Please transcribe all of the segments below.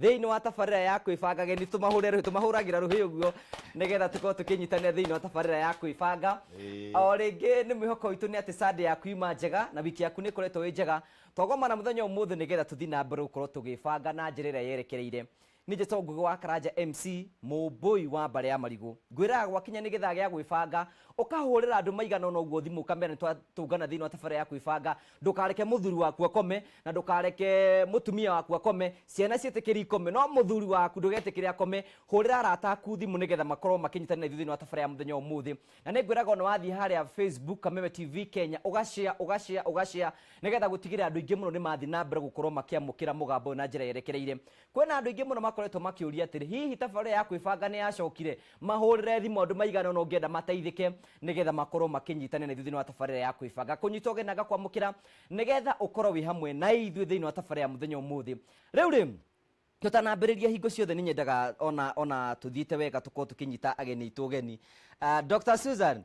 Thĩinĩ wa tabarĩra ya kwĩbanga, ageni tũmahũrĩre rũhĩ, tũmahũragĩra rũhĩ ũguo nĩgetha tũkorwo tũkĩnyitanĩra thĩinĩ wa tabarĩra ya kwĩbanga. O rĩngĩ nĩ mwĩhoko witũ nĩ atĩ Sunday yaku yuma njega na wiki yaku nĩ ĩkoretwo ĩ njega. Twagomana mũthenya ũmũthĩ nĩgetha tũthiĩ na mbere gũkorwo tũgĩbanga na njĩra ĩrĩa yerekereire. Niĩ njĩtagwo Ngũgĩ wa Karanja MC, mũmbũi wa mbarĩ ya marigũ. Ngwĩraga gwakinya nĩ gĩthaa gĩa gwĩbanga, ũkahũrĩra andũ maigana ũna ũguo thimũ ũkamera nĩ twatũngana thĩinĩ wa tabarĩra ya kwĩbanga, ndũkareke mũthuri waku akome na ndũkareke mũtumia waku akome ciana ciĩtĩkĩri ikome no mũthuri waku ndũgetĩkĩre akome hũrĩra arata aku thimũ nĩgetha makorwo makĩnyitana na ithuĩ thĩinĩ wa tabara ya mũthenya wa ũmũthĩ na nĩ ngwĩraga ona wathiĩ harĩa facebook kameme tv kenya ũgacea ũgacea ũgacea nĩgetha gũtigĩrĩra andũ aingĩ mũno nĩ mathiĩ na mbere gũkorwo makĩamũkĩra mũgambo ũyũ na njĩra yerekereire Kwĩna andũ aingĩ mũno makoretwo makĩũria atĩrĩ, hihi tabarĩra ya kwĩbanga nĩ yacokire? Mahũrĩre thimũ andũ maigana ũna ũngĩenda mateithĩke nĩgetha makorwo makĩnyitana na ithuĩ thĩinĩ wa tabarĩra ya kwĩbanga. Kũnyita ũgeni na ngakwamũkĩra nĩgetha ũkorwo wĩ hamwe na ithuĩ thĩinĩ wa tabarĩra ya mũthenya ũmũthĩ. Rĩu rĩ, tũtanambĩrĩria hingo ciothe nĩ nyendaga ona ona tũthiĩte wega tũkorwo tũkĩnyita ageni aitũ ũgeni. Ah, Dr. Susan,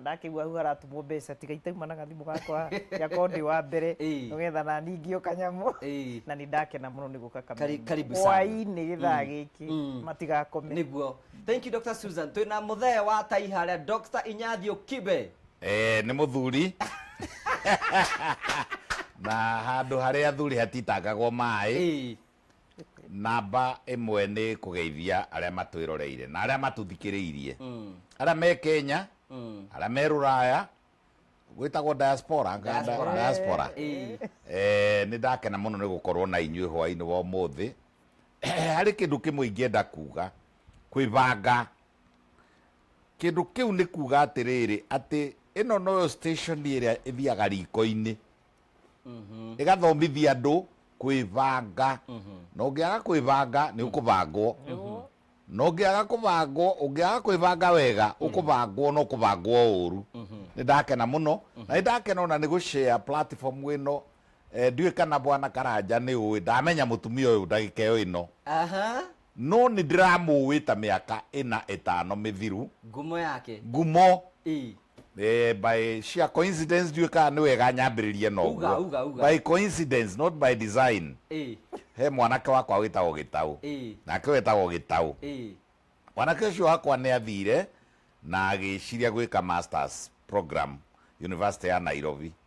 ndakĩigua hau haratũmwo mbeca tiga itauma na gathimũ gakwa gakorwo ndĩ wa mbere Ĩĩ. nĩgetha nani ngĩo kanyamũ Ĩĩ. na nĩ ndakena mũno nĩ gũka Kari- karibu sana. hwainĩ gĩthaa gĩkĩ Mm. matigakome niguo thank you dr susan twĩ na mũthee wa tai harĩa dr inyathio kibe Eh, nĩ mũthuri na handũ harĩa athuri hatitangagwo maĩ Ĩĩ. Namba ĩmwe nĩ kũgeithia arĩa matwĩroreire na arĩa matũthikĩrĩirie, arĩa me Kenya, arĩa me Rũraya, gwĩtagwo diaspora, nga- Diaspora. diaspora. Eh. Eh, nĩ ndakena mũno nĩ gũkorwo na inyuĩ hwaĩ-inĩ wa ũmũthĩ harĩ kĩndũ kĩmwe ingĩenda kuga kwĩbanga kĩndũ kĩu nĩ kuga atĩrĩrĩ atĩ ĩno noyo station ĩrĩa ĩthiaga riko-inĩ ĩgathomithia andũ kwĩbanga na ũngĩaga kwĩbanga nĩ ũkũbangwo na ũngĩaga kũbangwo ũngĩaga kwĩbanga wega ũkũbangwo na ũkũbangwo ũru nĩ ndakena mũno na nĩ ndakena ona nĩ gũshare platform ĩno Eh, ndiũĩ kana bwana karanja nĩ ũĩ ndamenya mũtumia ũyũ ndagĩka ĩyo ĩno Aha. No nĩ ndĩramũũĩ ta mĩaka ĩna ĩtano mĩthiru. Ngumo yake. Ngumo. Ii. Eh, by sheer coincidence, ndiũĩ kana nĩ wega nyambĩrĩrie na ũguo. Uga, uga, uga. By coincidence, not by design. Ii. He mwanake wakwa wĩtagwo Gĩtaũ. Ii. Nake wetagwo Gĩtaũ. Ii. Mwanake ũcio wakwa nĩ athiire na agĩĩciria gwĩka masters program University ya Nairobi.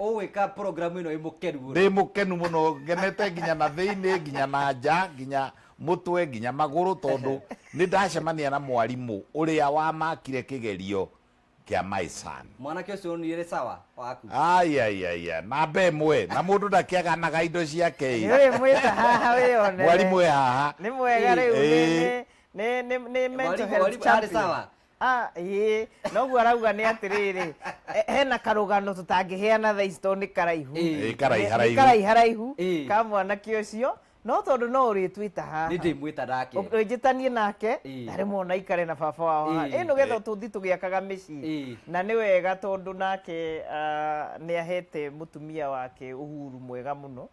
ũgwĩka program ĩno ĩ mũkenu mũno. Ndĩ mũkenu mũno ngenete nginya na thĩinĩ nginya na nja nginya mũtwe nginya magũrũ tondũ nĩ ndacemania na mwarimũ ũrĩa wamakire kĩgerio kĩa my son. Mwanake ũcio nĩ rĩ sawa waku. Ai ai ai ai, namba ĩmwe na mũndũ ndakĩaganaga indo ciake ĩ. Nĩ ũrĩ mwĩta haha wĩyonere. Mwarimũ e haha. Nĩ mwega rĩu nĩ Ĩĩ. nĩ nĩ nĩ nĩ mental Mwarimũ- health mwarimũ arĩ champion. sawa Ah, ĩĩ noguo arauga nĩ atĩrĩrĩ eh, hena karũgano tũtangĩheana thaa ici tondũ nĩ karaihu Ĩĩ, karaihu, Nĩ- haraihu. nĩ karaihu haraihu Ĩĩ. ka mwanake ũcio no tondũ no ũrĩtwĩta haha nĩ ndĩmwĩta nake njĩtanie nake Ĩĩ. ndarĩ mona ikare na baba wao Ĩĩ. ĩ nĩgetha tũthi tũgĩakaga mĩciĩ Ĩĩ. na nĩ wega tondũ nake ah, nĩ ahete mũtumia wake ũhuru mwega mũno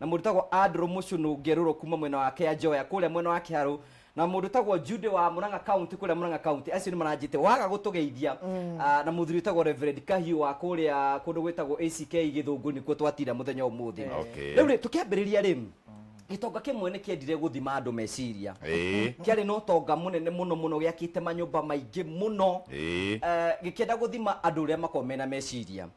Na mũndũ ũtagwo Andrew Mũcũnũ Ngerũrũ kuuma mwena wa Kĩanjoya kũrĩa mwena wa Kĩharũ na mũndũ ũtagwo Jude wa Murang'a County kũrĩa Murang'a County acio nĩ maranjĩte waga gũtũgeithia ah, na mũthuri ũtagwo Reverend Kahiũ wa kũrĩa kũndũ gwĩtagwo ACK Gĩthũngũ nĩkuo twatira mũthenya ũmũthĩ Okay. rĩu rĩ tũkĩambĩrĩria rĩ gĩtonga kĩmwe nĩ kĩendire gũthima andũ meciria Ĩĩ. kĩarĩ na ũtonga mũnene mũno mũno gĩakĩte manyũmba maingĩ mũno Ĩĩ. Eh, gĩkĩenda gũthima andũ ũrĩa makoragwo mena meciria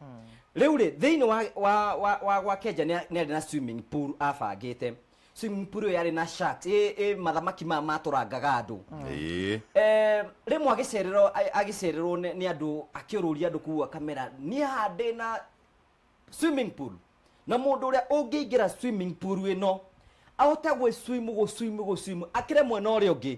Rĩu rĩ, thĩinĩ wa, wa, wa, wa gwa Kenja nĩ arĩ na swimming pool abangĩte. Swimming pool ĩyo yarĩ na sharks, ĩ, ĩ mathamaki maya matũrangaga andũ. Ĩĩ. Eh, rĩmwe agĩcererwo a- agĩcererwo nĩ nĩ andũ akĩũrũria andũ kũu akamera niĩ haha ndĩ na swimming pool na mũndũ ũrĩa ũngĩingĩra swimming pool ĩno ahote gwĩswimu gũswimu gũswimu akĩre mwena ũrĩa ũngĩ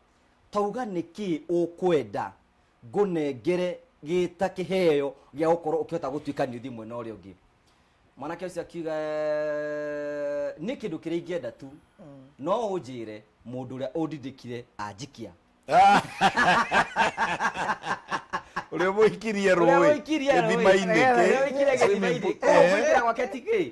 Tauga nĩ kĩ ũkwenda ngũnengere gĩta kĩheo gĩa gũkorwo ũkĩhota gũtuĩka nĩ ũthiĩ mwena ũrĩa ũngĩ mwanake ũcio akiuga "Eh, nĩ kĩndũ kĩrĩa ingĩenda tu no ũnjĩre mũndũ ũrĩa ũndindĩkire anjikia ũrĩa mũikirie Ũrĩa rũĩ ũikirie rũĩ. gĩthimainĩ Ũrĩa kĩ? ũikirie gĩthimainĩ. Swimming pool. Kũu kũingĩra gwake ti kĩ?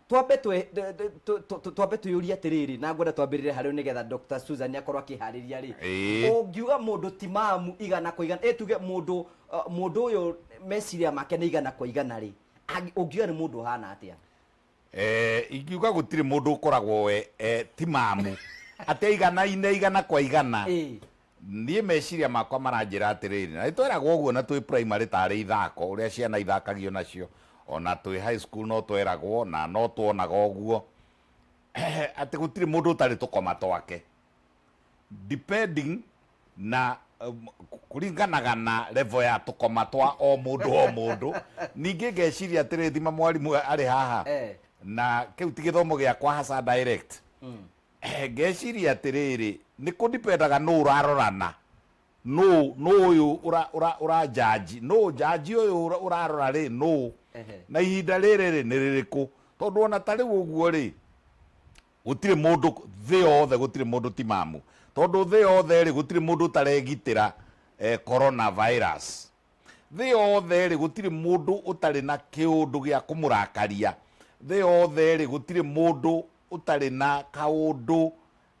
twambe twe- tũ- tũ- tũ- tũ- tũ- twambe twĩyũrie atĩrĩrĩ na ngwenda twambĩrĩre harĩ nĩ getha dr susan akorwo akĩharĩria rĩ Ĩĩ. ũngiuga mũndũ timamu igana kwa igana ĩ tuge mũndũ uh, mũndũ ũyũ meciria make nĩ igana kwa igana rĩ angi- ũngiuga nĩ mũndũ ũhana atĩa Eh, ingiuga gũtirĩ mũndũ ũkoragwo we eh, ti mamu atĩ igana-inĩ igana kwa igana Ĩĩ. Niĩ meciria makwa maranjĩra atĩrĩrĩ, na nĩ tweragwo ũguo na twĩ primary ta arĩ ithako ũrĩa ciana ithakagio nacio, o na twĩ high school no tweragwo na no twonaga ũguo, atĩ gũtirĩ mũndũ ũtarĩ tũkoma twake, depending na kũringanaga na level ya tũkoma twa o mũndũ o mũndũ. Ningĩ ngeciria atĩrĩrĩ, thima mwarimũ arĩ haha, na kĩu ti gĩthomo gĩakwa haca direct, ngeciria atĩrĩrĩ nĩ kũ dipendaga nũ ũrarorana nũ nũ ũyũ ũra- ũra- ũranjanji nũ njanji ũyũ ũra- ũrarora rĩ nũ Ehe. na ihinda rĩrĩ rĩ nĩ rĩrĩkũ tondũ ona ta rĩu ũguo rĩ gũtirĩ mũndũ thĩ yothe gũtirĩ mũndũ timamu tondũ thĩ yothe rĩ gũtirĩ mũndũ ũtaregitĩra eh, corona virus Thĩ yothe-rĩ, gũtirĩ mũndũ ũtarĩ na kĩũndũ gĩa kũmũrakaria. Thĩ yothe-rĩ, gũtirĩ mũndũ ũtarĩ na kaũndũ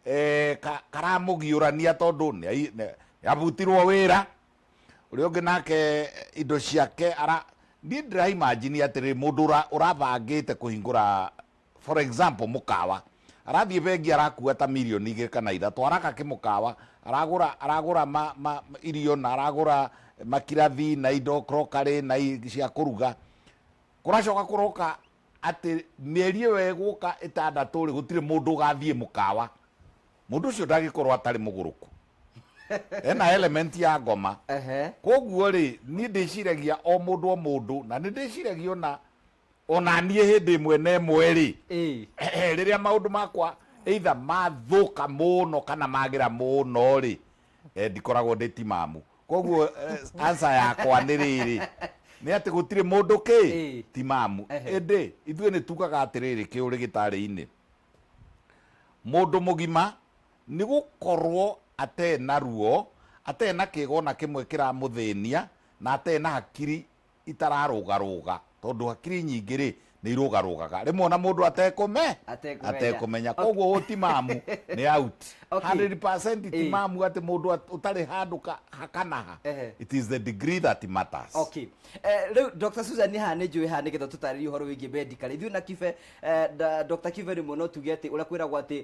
eh, ka, karamũgiũrania tondũ nĩ ai- nĩ- nĩabutirwo wĩra ũrĩa ũngĩ nake indo ciake ara niĩ ndĩraimajini atĩrĩ mũndũ ũra- ũrabangĩte kũhingũra For example, mũkawa, arathiĩ bengi arakua ta mirioni igĩrĩ kana ithatũ, araka kĩmũkawa, aragũra aragũra ma, ma, irio na aragũra makirathi na indo crockery na cia kũruga, kũracoka kũroka atĩ mĩeri ĩyo ĩgũka ĩtandatũ rĩ gũtirĩ mũndũ ũgathiĩ mũkawa, mũndũ ũcio ndagĩkorwo atarĩ mũgũrũku ena element ya ngoma koguo rĩ niĩ ndĩciragia o mũndũ o mũndũ na nĩ ndĩciragia ona ona niĩ hĩndĩ ĩmwe na ĩmwe rĩ Ĩĩ. rĩrĩa maũndũ makwa either mathũka mũno kana magĩra mũno rĩ eh, ndikoragwo ndĩ timamu koguo eh, answer yakwa nĩ rĩrĩ nĩ atĩ gũtirĩ mũndũ kĩ Ĩĩ. timamu Ehe. ĩndĩ ithuĩ nĩ tugaga atĩrĩrĩ kĩũrĩ gĩtarĩ-inĩ mũndũ mũgima nĩ gũkorwo atee na ruo atee na kĩgo na kĩmwe kĩramũthĩnia na atee na hakiri itararũgarũga, tondũ hakiri nyingĩ-rĩ, nĩ irũgarũgaga rĩmwe o na mũndũ atekũme, Atekũmenya. atekũmenya. Okay. Kwoguo ũyũ timamu, nĩ out. Okay. 100% Ĩĩ. timamu atĩ mũndũ at- ũtarĩ handũ ka- ha kana ha. Ehe. It is the degree that matters. Okay. Eh, rĩu Dr. Susan haha nĩ njũĩ haha nĩgetha tũtarĩrie ũhoro wĩgiĩ medicare ithuĩ na kibe eh, da- Dr. kibe rĩmwe no tuge atĩ ũrĩa kwĩragwo atĩ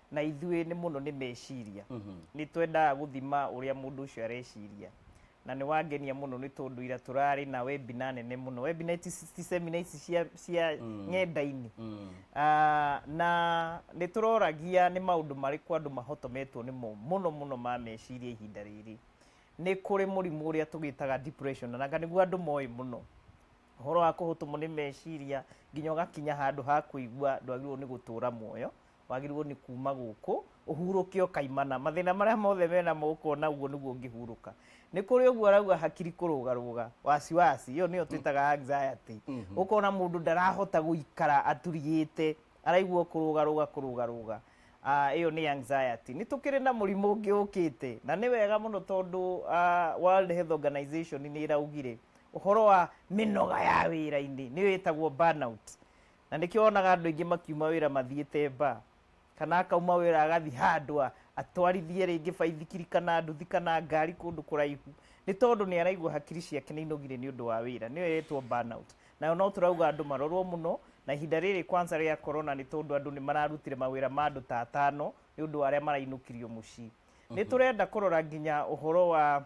na ithuĩ nĩ mũno nĩ meciria nĩ twendaga gũthima ũrĩa mũndũ ũcio areciria na nĩ wangenia mũno nĩ tondũ ira tũrarĩ na webina nene mũno webina ti ti semina ici cia, cia ng'enda-inĩ Ah, na nĩ tũroragia nĩ maũndũ marĩkũ andũ mahotometwo nĩmo mũno mũno ma meciria ihinda rĩrĩ nĩ kũrĩ mũrimũ ũrĩa tũgĩtaga depression na nĩguo andũ moĩ mũno ũhoro wa kũhũtũmwo nĩ meciria nginya ũgakinya handũ ha kũigua ndwagĩrĩirwo nĩ gũtũra muoyo wagĩrĩirwo nĩ kuma gũkũ ũhurũke ũkaimana mathĩna marĩa mothe mena moko na ũguo nĩguo ũngĩhurũka nĩ kũrĩ ũguo arauga hakiri kũrũgarũga wasiwasi ĩyo nĩyo twĩtaga anxiety ũkona mũndũ ndarahota gũikara aturigĩte araigua kũrũgarũga kũrũgarũga Ah, ĩyo nĩ anxiety nĩ tũkĩrĩ na mũrimũ ũngĩ ũkĩte na nĩ wega mũno tondũ ah, World Health Organization nĩ ĩraugire ũhoro wa mĩnoga ya wĩra-inĩ nĩyo ĩtagwo burnout na nĩkĩo wonaga andũ aingĩ makiuma wĩra mathiĩte mba kana akauma wĩra agathi handũ a- atwarithie rĩngĩ baithikiri kana nduthi kana ngari kũndũ kũraihu nĩ tondũ nĩ araigua hakiri ciake nĩ inogire nĩ ũndũ wa wĩra nĩyo ĩretwo burnout nayo no tũrauga andũ marorwo mũno na ihinda rĩrĩ kwanza rĩa korona nĩ tondũ andũ nĩ mararutire mawĩra ma andũ ta atano nĩ ũndũ wa arĩa marainũkirio mũciĩ nĩ tũrenda kũrora nginya ũhoro wa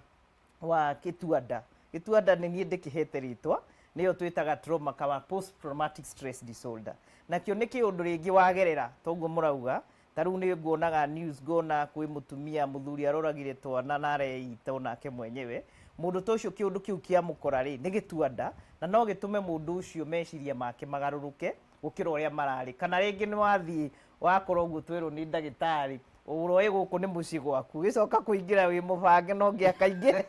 wa kĩtuanda gĩtuanda nĩ niĩ ndĩkĩhete rĩtwa nĩyo twĩtaga trauma kawa post traumatic stress disorder nakĩo nĩ kĩũndũ rĩngĩ wagerera toguo mũrauga ta rĩu nĩ nguonaga news ngona kwĩ mũtumia mũthuri aroragire twana na areita onake mwenyewe mũndũ ta ũcio kĩũndũ kĩu kĩamũkora rĩ nĩ gĩtuanda na no gĩtũme mũndũ ũcio meciria make magarũrũke gũkĩra ũrĩa mararĩ kana rĩngĩ nĩ wathiĩ wakora ũguo twerwo nĩ ndagĩtarĩ ũroĩ gũkũ nĩ mũciĩ gwaku gĩcoka kũingĩra wĩ mũbange no ngĩ akaingĩra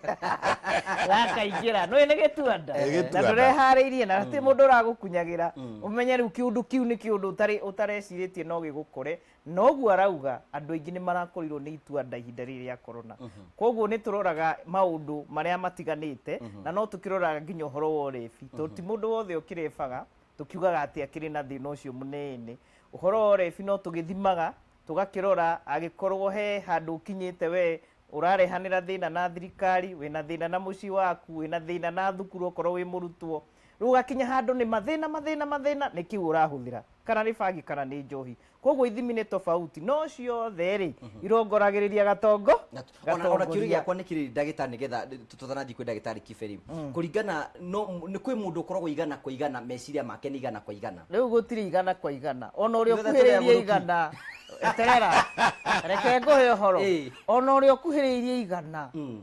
gakaingĩra nũĩ nĩ gĩtuanda Ĩ, gĩtuanda. na ndũreharĩirie na ti mũndũ ũragũkunyagĩra ũmenye rĩu kĩũndũ kĩu nĩ kĩũndũ ũtarĩ- ũtarecirĩtie no gĩgũkore na ũguo arauga andũ aingĩ nĩ marakorirwo nĩ ituanda ihinda rĩrĩ rĩa korona koguo nĩ tũroraga maũndũ marĩa matiganĩte na no tũkĩroraga nginya ũhoro wa ũrebi tondũ ti mũndũ wothe ũkĩrebaga tũkiugaga atĩ akĩrĩ na thĩna ũcio mũnene ũhoro wa ũrebi no tũgĩthimaga tũgakĩrora agĩkorwo he handũ ũkinyĩte we ũrarehanĩra thĩna na thirikari wĩna thĩna na mũciĩ waku wĩna thĩna na thukuru okorwo wĩ mũrutwo rĩu ũgakinya handũ nĩ mathĩna mathĩna mathĩna nĩ kĩu ũrahũthĩra kana nĩ bangi kana nĩ njohi koguo ithimi nĩ tofauti no ciothe rĩ irongoragĩrĩria gatongo Na- ona- ona kĩũria gatongoria. gĩakwa nĩ kĩrĩ ndagĩtarĩ nĩgetha tũtanathiĩ kwĩ ndagĩtarĩ kiberi kũringana no nĩ kwĩ mũndũ ũkoragwo igana kwa igana meciria make nĩ igana kwa igana rĩu gũtirĩ igana kwa igana ona ũrĩa Ithuothe tũrĩ ũkuhĩrĩirie agũrũki. igana terera reke ngũhe ũhoro Ĩĩ. ona ũrĩa ũkuhĩrĩirie igana Mm.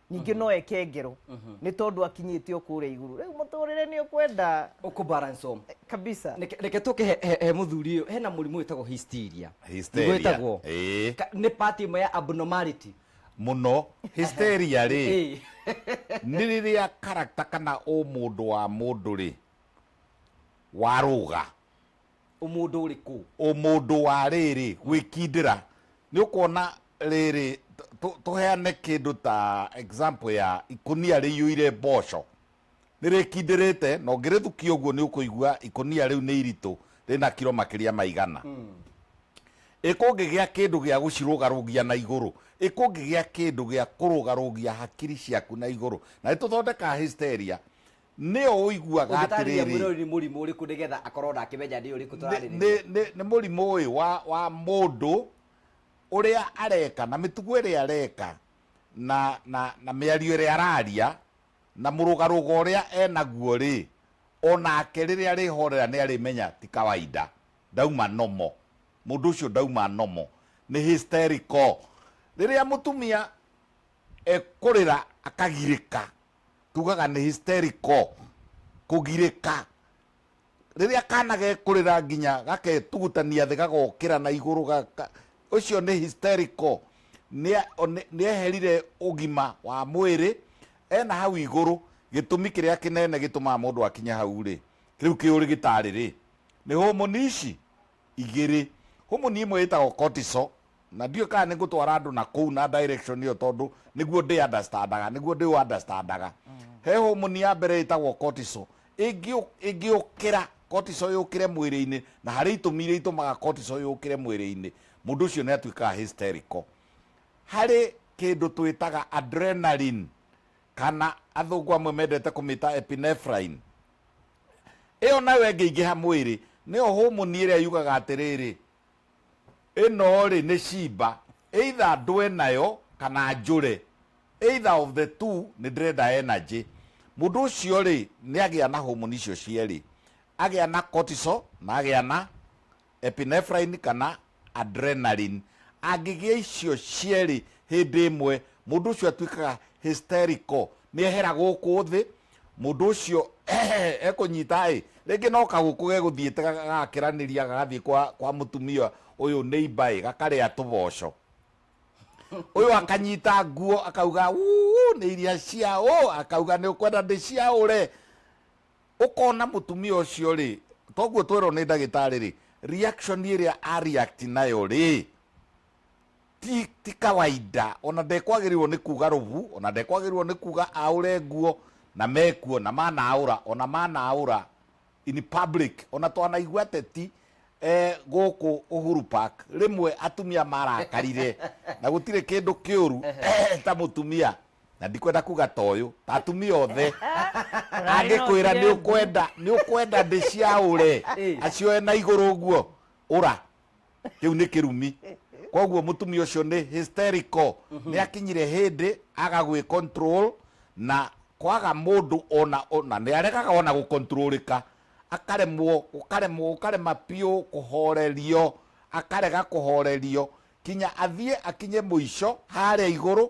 ningĩ no eke ngero nĩ tondũ akinyĩte o kũrĩa igũrũ rĩu mũtũrĩre nĩ ũkwenda ũkũ balance home kabisa Reke- reke tũke he- he he mũthuri ũyũ hena mũrimũ wĩtagwo hysteria Hysteria. Nĩguo wĩtagwo? Ĩĩ. Ka- nĩ pati ĩmwe ya abnormality muno hysteria rĩ Ĩĩ. nĩ rĩrĩa karakta kana ũmũndũ wa mũndũ rĩ warũga Ũmũndũ ũrĩ kũ? Ũmũndũ wa rĩrĩ, gwĩkindĩra. Nĩ ũkuona rĩrĩ, tũheane kĩndũ ta example ya ikũnia rĩiyũire mboco. Nĩ rĩkindĩrĩte na ũngĩrĩthukia ũguo nĩ ũkũigua ikũnia rĩu nĩ iritũ, rĩna kiro makĩria ma igana. Ĩ kũngĩgĩa kĩndũ gĩa gũcirũgarũgia na igũrũ? Ĩ kũngĩgĩa kĩndũ gĩa kũrũgarũgia hakiri ciaku na igũrũ? Na nĩ tũthondekaga hysteria. nĩ o ũiguaga Ũngĩtaarĩria atĩrĩrĩ mwĩrori nĩ mũrimũ ũrĩkũ nĩgetha akorwo ona akĩmenya nĩ ũrĩkũ nĩ- tũrarĩrĩria? nĩ- nĩ- nĩ mũrimũ ũyũ wa, wa mũndũ ũrĩa areka na mĩtugo ĩrĩa areka na, na, na mĩario ĩrĩa araria na mũrũgarũgo ũrĩa enaguo rĩ onake rĩrĩa arĩhorera nĩ arĩmenya ti kawaida ndauma nomo mũndũ ũcio ndauma nomo nĩ hysterical rĩrĩa mũtumia ekũrĩra akagirĩka tugaga nĩ hysterical kũgirĩka rĩrĩa kana gekũrĩra nginya gaketugutania thĩ gagokĩra na igũrũ gaka ũcio nĩ hysterical nĩa- one- nĩeherire ũgima wa mwĩrĩ ena hau igũrũ gĩtũmi kĩrĩa kĩnene gĩtũmaga mũndũ akinya hau rĩ rĩu kĩũrĩ gĩtarĩ rĩ nĩ homoni ici igĩrĩ. Humu ni ĩmwe ĩtagwo cortisol, na ndiũĩ kana nĩ ngũtwara andũ na kũu na direction ĩyo tondũ nĩguo ndĩ understandaga, nĩguo ndĩ ũunderstandaga. He homoni ya mbere ĩtagwo cortisol, ĩngĩ ĩngĩũkĩra cortisol yũkĩre mwĩrĩ-inĩ, na harĩ itũmi iria itũmaga cortisol yũkĩre mwĩrĩ-inĩ, mũndũ ũcio nĩ atuĩkaga hysterical. Harĩ kĩndũ twĩtaga adrenaline, kana athũngũ amwe mendete kũmĩta epinephrine, ĩyo nayo ĩngĩingĩha mwĩrĩ, nĩyo homoni ĩrĩa yugaga atĩrĩrĩ, Ĩno-rĩ, nĩ ciimba, either ndũe nayo kana njũre, either of the two, nĩ ndĩrenda energy. Mũndũ ũcio-rĩ, nĩ agĩa na homoni icio cierĩ, agĩa na cortisol na agĩa na... epinephrine kana adrenaline. Angĩgĩa icio cierĩ hĩndĩ ĩmwe, mũndũ ũcio atuĩkaga hysterical, nĩ ehera gũkũ thĩ, mũndũ ũcio ekũnyita ĩ, rĩngĩ no kagũkũ gegũthiĩte gagakĩranĩria gagathiĩ kwa, kwa mũtumia ũyũ neighbor ĩ, gakarĩa tũboco. Ũyũ akanyita nguo akauga "Uu, nĩ iria ciaũ, akauga nĩ ũkwenda ndĩciaũre. ũkona mũtumia ũcio rĩ toguo twerwo nĩ ndagĩtarĩ rĩ reaction ĩrĩa a react nayo rĩ ti, ti kawaida ona ndekwagĩrĩirwo nĩ kuga rũbu ona ndekwagĩrĩirwo nĩ kuga aũre nguo na mekuo na manaũra ona manaũra in public ona twanaigua teti eh, gũkũ Uhuru Park rĩmwe atumia marakarire na gũtirĩ kĩndũ kĩũru ta mũtumia na ndikwenda kuga ta ũyũ ta atumia othe angĩkwĩra nĩ ũkwenda nĩ ũkwenda ndĩciaũre acioe na igũrũ ũguo ũra kĩu nĩ kĩrumi koguo mũtumia ũcio nĩ hysterical nĩ akinyire hĩndĩ aga gwĩ control na kwaga mũndũ ona ona nĩ aregaga ona gũkontrolĩka akaremwo ũkaremwo ũkarema biũ kũhorerio akarega kũhorerio kinya athiĩ akinye mũico harĩa igũrũ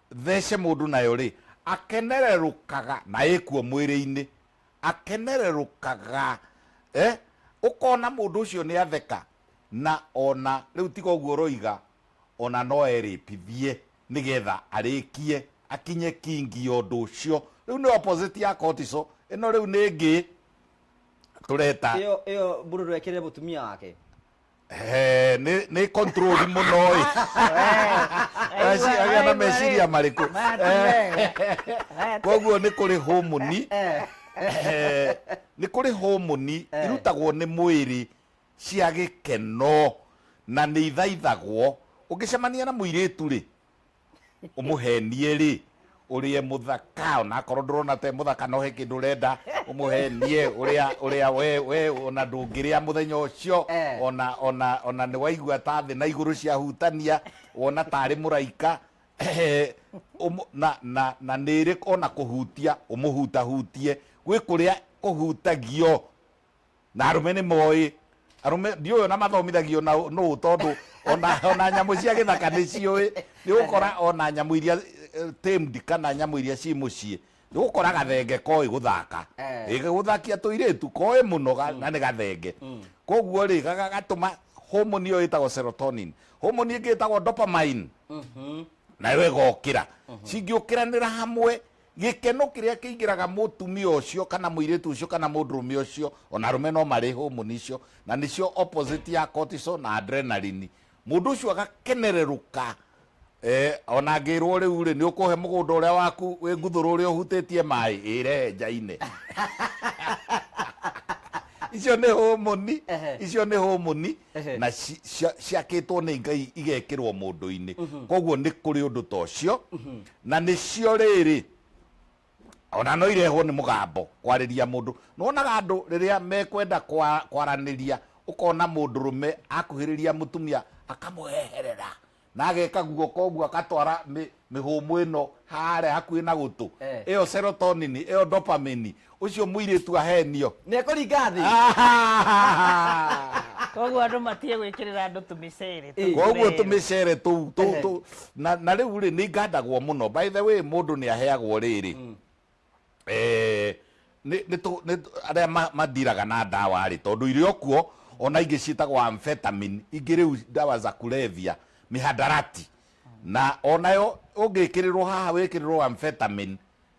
thece mũndũ nayo-rĩ, akenererũkaga na ĩkuo mwĩrĩ-inĩ, akenererũkaga, eh, ũkona mũndũ ũcio nĩ atheka, na o na rĩu tiga ũguo ũroiga o na no erĩpithie nĩ getha arĩkie akinye kingi ya ũndũ ũcio. Rĩu nĩ opposite ya cortisol, ĩno rĩu nĩ ĩngĩ tũreta. Ĩyo, ĩyo mũndũ no ekĩrĩre mũtumia wake? He, nĩ nĩ control mũno ĩ Aci- agĩa na meciria marĩkũ koguo nĩ kũrĩ homoni Eh, nĩ kũrĩ homoni irutagwo nĩ mwĩrĩ cia gĩkeno na nĩ ithaithagwo ũngĩcemania na mũirĩtu rĩ umuhenie ri urie muthaka ona akorwo ndurona te muthaka no he kindu urenda umuhenie uria uria we we ona ndungiria muthenya ucio Eh. ona ona ona ni waigua ta thi na iguru cia hutania wona tari muraika Umu- na na na niri ona kuhutia umuhuta hutie gwi kuria kuhutagio na arũme nĩ moĩ arũme ndiũĩ ona mathomithagio na ũ- nũ tondũ ona, ona nyamũ cia gĩthaka nĩ ciũĩ nĩ ũkora ona nyamũ iria eh, tamed kana nyamũ iria ci mũciĩ nĩ ũkora gathenge koĩ gũthaka Eh. Ĩ, gũthakia tũirĩtu koĩ mũno ga- na nĩ gathenge koguo rĩ ga- ga- gatũma homoni ĩyo ĩtagwo serotonin homoni ĩngĩ ĩtagwo dopamine nayo ĩgokĩra cingĩũkĩranĩra hamwe Gĩkeno kĩrĩa kĩingĩraga mũtumia ũcio kana mũirĩtu ũcio kana mũndũrũme ũcio, ona arũme no marĩ homoni icio, na nĩcio opposite ya cortisol na adrenaline. Mũndũ ũcio agakenererũka, eh, ona angĩrwo rĩu-rĩ, nĩ ũkũhe mũgũnda ũrĩa waku wĩ Nguthũrũ ũrĩa ũhutĩtie maĩ, ĩ rehe njaine. icio nĩ homoni, Ehe. icio nĩ homoni Ehe. na ci- cia- ciakĩtwo nĩ Ngai igekĩrwo mũndũ-inĩ. Koguo nĩ kũrĩ ũndũ ta ũcio Na nĩcio rĩĩrĩ, o na no irehwo nĩ mũgambo, kwarĩria mũndũ. Nĩwonaga andũ rĩrĩa mekwenda kwaranĩria, ũkona mũndũrũme akuhĩrĩria mũtumia akamũheherera na ageka guoko ũguo agatwara mĩhũmũ ĩno harĩa hakuhĩ na gũtũ, ĩyo serotonin, ĩyo dopamine, Ũcio mũirĩtu ahenio. Nĩekũringa thĩ. Koguo andũ matige gwĩkĩrĩra andũ tũmĩcere tũu. Koguo tũmĩcere tũu tũ- tũ- na na rĩu rĩ nĩ ngandagwo mũno by the way mũndũ nĩ aheagwo rĩrĩ Eh, nĩ- nĩ tũ- nĩ tũ- arĩa ma- mathiraga na ndawa rĩ tondũ irĩ okuo ona ingĩ ciĩtagwo amphetamine ingĩ rĩu ndawa za kulevya mihadarati na onayo ũngĩkĩrĩrwo haha wĩkĩrĩrwo amphetamine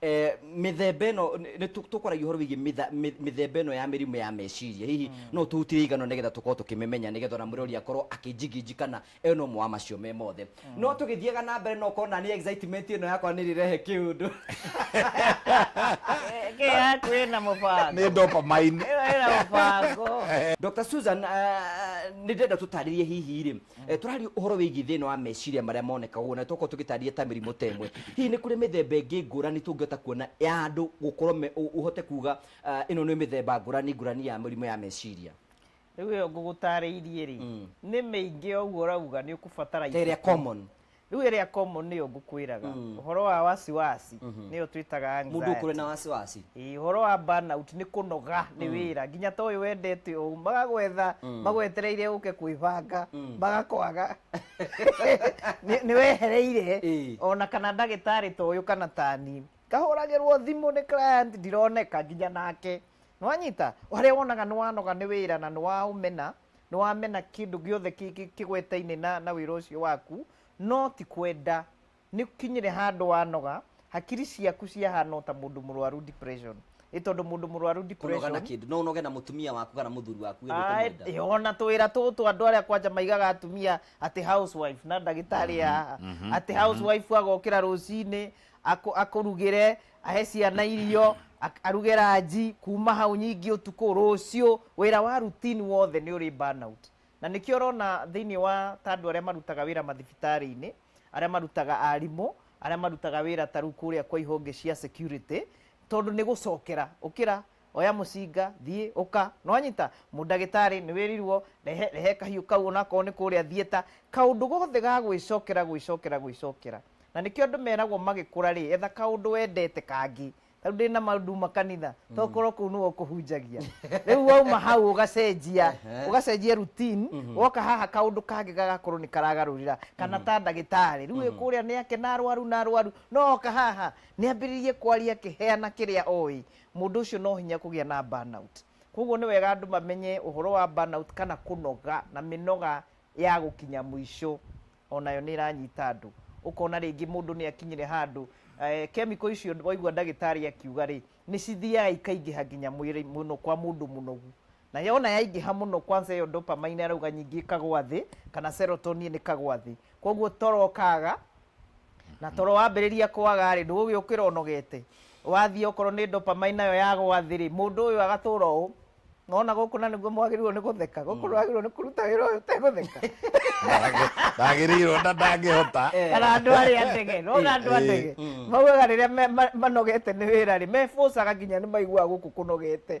Eh, mĩthemba ĩno nĩ- nĩ tũ- tũkwaragia ũhoro wĩgiĩ mĩtha- mĩ- mĩthemba ĩno ya mĩrimũ ya meciria hihi no tũhutire igano nĩgetha tũkorwo tũkĩmĩmenya nĩgetha ona mũrori akorwo akĩnjinginji kana e no ũmwe wa macio me mothe no tũgĩthiaga na mbere no ũkorwo na niĩ excitement ĩno yakwa nĩ rĩrehe kĩũndũ Ĩngĩ yaku ĩna mũbango nĩ dopamine ĩyo ĩna mũbango Dr. Susan, ah, nĩ ndĩrenda tũtarĩrie hihi rĩ Eh, tũraria ũhoro wĩgiĩ thĩna wa meciria marĩa monekaga ũguo na tokorwo tũgĩtarĩria ta mĩrimũ ta ĩmwe hihi nĩ kũrĩ mĩthemba ĩngĩ ngũrani tũngĩhota kuona ya andũ gũkorwo me- ũ- ũhote kuga ah, ĩno nĩ mĩthemba ngũrani ngũrani ya mĩrimũ ya meciria rĩu ĩyo ngũgũtarĩirie rĩ nĩ mĩingĩ o ũguo ũrauga nĩ ũkũbatara ta ĩrĩa ibuku. common rĩu ĩrĩa common nĩyo ngũkwĩraga Mm. ũhoro wa wasiwasi Mhm. nĩyo twĩtaga mũndũ anxiety. ũkũrĩ na wasiwasi Ĩĩ, ũhoro wa burnout nĩ kũnoga nĩ wĩra nginya ta ũyũ wendete ũũ magagwetha Mm. magwetereire ũke kwĩbanga Mm. magakwaga Nĩ- nĩ wehereire Ĩĩ. ona kana ndagĩtarĩ ta ũyũ kana tani kahũragĩrwo thimũ nĩ client ndironeka nginya nake nĩwanyita harĩa wonaga nĩ wanoga nĩ wĩra na nĩ waũmena nĩ wamena kĩndũ gĩothe kĩ- kĩ- kĩgwetainĩ na, na wĩra ũcio waku no ti kwenda nĩ kinyire handũ wanoga hakiri ciaku ciahana o ta mũndũ mũrwaru depression ĩ tondũ mũndũ mũrwaru kũnoga na depression kĩndũ no ũnoge na mũtumia waku kana mũthuri waku wĩ Ai, ũkũmwenda ĩ, ona twĩra tũtũ andå arä a kwanja maigaga atumia atä housewife na ndagä tarä haha atä housewife agokä ra rå cinä akå rugä re ahe ciana irio ak- aruge ranji kuma hau nyingĩ ũtukũ rũciũ wĩra wa routine wothe nĩ ũrĩ burnout na nĩkĩo ũrona thĩinĩ wa ta andũ arĩa marutaga wĩra mathibitarĩ-inĩ arĩa marutaga arimũ arĩa marutaga wĩra ta rĩu kũrĩa kwa ihonge cia security tondũ nĩ gũcokera ũkĩra Oya mũcinga, thiĩ, ũka. Nĩwanyita? Mũndagĩtarĩ, nĩwĩrirwo, rehe, rehe kahiũ kau onakorwo nĩ kũrĩa thieta. Kaũndũ gothe ga gwĩcokera, gwĩcokera, gwĩcokera. Na nĩkĩo andũ meragwo magĩkũra-rĩ, etha kaũndũ wendete kangĩ. Ta rĩu ndĩna ma nduma kanitha, tokorwo kũu nĩwe ũkũhunjagia. Rĩu wauma hau ũgacenjia, ũgacenjia routine, woka haha kaũndũ kangĩ gagakorwo nĩkaragarũrĩra. Kana ta ndagĩtarĩ, rĩu wĩ kũrĩa nĩakena arwaru na arwaru, no oka haha, nĩambĩrĩrie kwaria akĩheana kĩrĩa oĩ. Mũndũ ũcio no hinya kũgĩa na burnout. Kwoguo nĩ wega andũ mamenye ũhoro wa burnout kana kũnoga na mĩnoga ya gũkinya mũico. O nayo nĩ ĩranyita andũ. Ũkona rĩngĩ mũndũ nĩ akinyire handũ kemiko icio waigua ndagĩtarĩ akiuga-rĩ, nĩ cithiaga ikaingĩha nginya mwĩrĩ mũno kwa mũndũ mũnogu. Na yona yaingĩha mũno kwanza ĩyo dopamine arauga nyingĩ ĩkagwa thĩ kana serotonin ĩkagwa thĩ. Kwoguo toro ũkaga na toro wambĩrĩria kwaga rĩ ndũgũgĩũkĩra ũnogete. Wathiĩ okorwo nĩ dopamine nayo yagwa thĩ rĩ mũndũ ũyũ agatũra ũũ. Nĩwona gũkũ na nĩguo mwagĩrĩirwo nĩ gũtheka. Gũkũ ndwagĩrĩirwo nĩ kũruta wĩra ũyũ ũtegũtheka. Ndagĩrĩirwo na ndangĩhota. Kana andũ arĩa a ndege. Nĩwona andũ a ndege maugaga rĩrĩa manogete nĩ wĩra rĩ me force aga nginya nĩ maiguaga gũkũ kũnogete.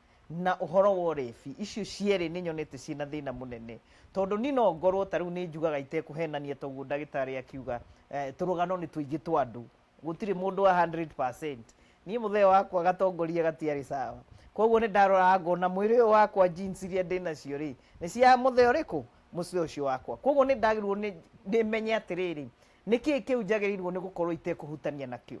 Na ũhoro wa ũrebi, icio cierĩ nĩ nyonete ciĩ na thĩna mũnene. Tondũ niĩ no ngorũo ta rĩu nĩ njugaga itekũhenania ta ũguo ndagĩtarĩ akiuga, tũrũgano nĩ tũingĩ twa andũ. Gũtirĩ mũndũ wa hundred percent. Niĩ mũthee wakwa gatongoria gatiarĩ sawa. Kwoguo nĩ ndaroraga ngona mwĩrĩ ũyũ wakwa genes iria ndĩ nacio rĩ, nĩ cia mũthee ũrĩkũ? Mũthee ũcio wakwa. Kwoguo nĩ ndagĩrĩirũo nĩ menye atĩrĩrĩ, nĩ kĩĩ kĩu njagĩrĩirũo nĩ gũkorũo itekũhutania nakĩo?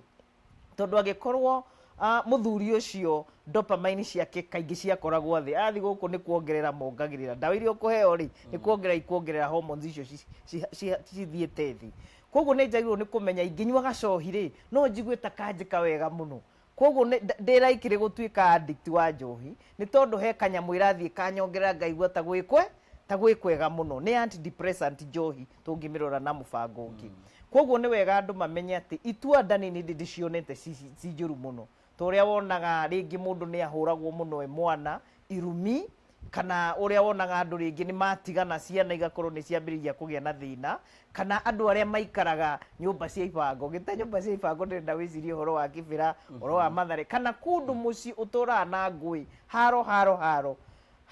tondũ angĩkorwo ah, mũthuri ũcio dopamine ciake kaingĩ ciakoragwo thĩ athi gũkũ nĩ kuongerera mongagĩrĩra ndawa iria ũkũheo rĩ nĩ kuongerera ikuongerera hormones icio ci- ci- ci- cithiĩte thĩ koguo nĩ njagĩrĩirwo nĩ kũmenya ingĩnyua gacohi rĩ no njigue ta kanjĩka wega mũno koguo nĩ- nda- ndĩ raikĩrĩ gũtuĩka addict wa njohi nĩ tondũ he kanyamũ ĩrathiĩ kanyongerera ngaigua ta gwĩkwe ta gwĩkwega mũno nĩ antidepressant njohi tũngĩmĩrora na mũbango ũngĩ koguo nĩ wega andũ mamenye atĩ itua nda nini ndĩ ndĩcionete ci- ci- ci njũru mũno ta ũrĩa wonaga rĩngĩ mũndũ nĩ ahũragwo mũno e mwana irumi kana ũrĩa wonaga andũ rĩngĩ nĩ matigana ciana igakorwo nĩ ciambĩrĩria kũgĩa na thĩna kana andũ arĩa maikaraga nyũmba cia ibango gĩta nyũmba cia ibango ndĩrenda wĩcirie ũhoro wa kĩbĩra ũhoro wa mathare kana kũndũ mũciĩ ũtũraga na ngũĩ haro haro haro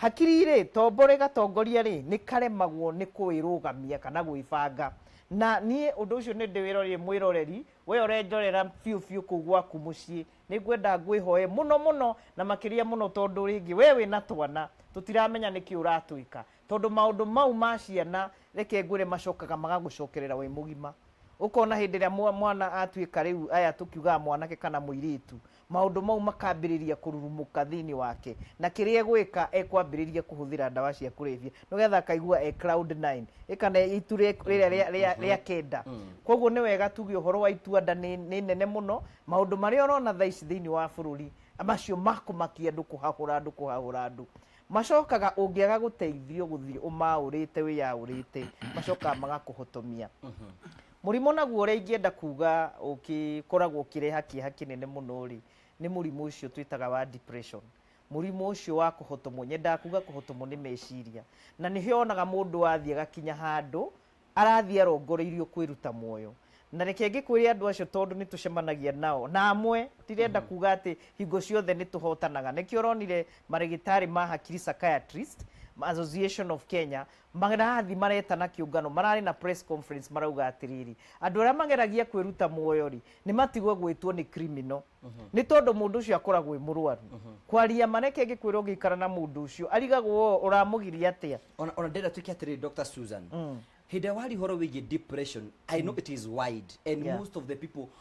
Hakiri-rĩ, tombore gatongoria-rĩ, nĩkaremagwo nĩ kũĩrũgamia kana gwĩbanga. Na niĩ ũndũ ũcio nĩndĩwĩrorire mwĩroreri, wee ũrenjorera biũ biũ kũu gwaku mũciĩ, nĩngwenda ngwĩhoe mũno mũno na makĩria mũno tondũ rĩngĩ wee wĩna twana, tũtiramenya nĩkĩ ũratwĩka. Tondũ maũndũ mau ma ciana reke ngwĩre macokaga magagũcokerera wĩ mũgima. Ũkona hĩndĩ ĩrĩa mwana atuĩka rĩu aya tũkiugaga mwanake kana mũirĩtu, maũndũ mau makambĩrĩria kũrurumũka thĩinĩ wake, na kĩrĩa egwĩka ekwambĩrĩria kũhũthĩra ndawa cia kũrebia nĩgetha akaigua e cloud nine ĩ kana itu rĩa- rĩrĩa rĩa- rĩa- rĩa kenda koguo nĩ wega tuge ũhoro wa itua nda nĩ nĩ nene mũno maũndũ marĩa ũrona thaa ici thĩinĩ wa bũrũri macio makũmakia andũ kũhahũra andũ kũhahũra andũ macokaga ũngĩaga gũteithio gũthiĩ ũmaũrĩte wĩyaũrĩte macokaga magakũhotomia Mũrimũ naguo ũrĩa ingĩenda kuuga ũkĩkoragwo ũkĩreha kĩeha kĩnene mũno-rĩ, nĩ mũrimũ ũcio twĩtaga wa depression. Mũrimũ ũcio wa kũhotomwo, nyendaga kuuga kũhotomwo nĩ meciria. Na nĩho wonaga mũndũ athiĩ agakinya handũ, arathiĩ arongoreirio kwĩruta muoyo. Na reke ngĩkwĩre andũ acio tondũ nĩ tũcemanagia nao, na amwe, ndirenda kuuga atĩ hingo ciothe nĩ tũhotanaga. Nĩkĩo ũronire marĩgĩtarĩ ma hakiri, psychiatrists, Association of Kenya, Marathi maretana kĩũngano mararĩ na press conference marauga atĩrĩrĩ, andũ arĩa mageragia kwĩruta muoyo rĩ nĩ matigwe gwĩtwo nĩ criminal nĩ tondũ mũndũ ũcio akoragwo e mũrwaru. Kwaria ma reke ngĩkwĩra ũngĩikara na mũndũ ũcio arigagwo oo ũramũgiria atĩa. ona ona ndĩrenda twĩke atĩrĩrĩ Dr. Susan hĩndĩ ĩrĩa waria ũhoro wĩgiĩ depression I know it is wide and Yeah. most of the people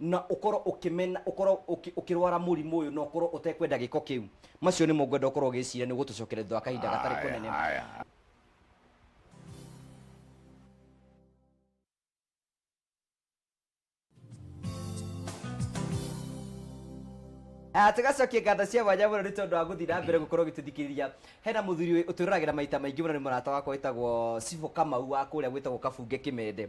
na ũkorwo ũkĩmena ũkorwo ũkĩ- ũkĩrwara mũrimũ ũyũ na ũkorwo ũtekwenda gĩko kĩu macio nĩmo ngwenda ũkorwo ũgĩciria nĩ gũtũcokera thutha wa kahinda gatarĩ Aya, kũnene aya. Ah, tugacokia nganda cia mwanya mũno nĩ tondũ wa gũthiĩ na mbere gũkorwo gĩtũthikĩrĩria hena mũthuri ũyũ ũtũroragĩra maita maingĩ mũno nĩ mũrata wakwa wĩtagwo cibo kamau wa kũrĩa gwĩtagwo kabunge kĩmende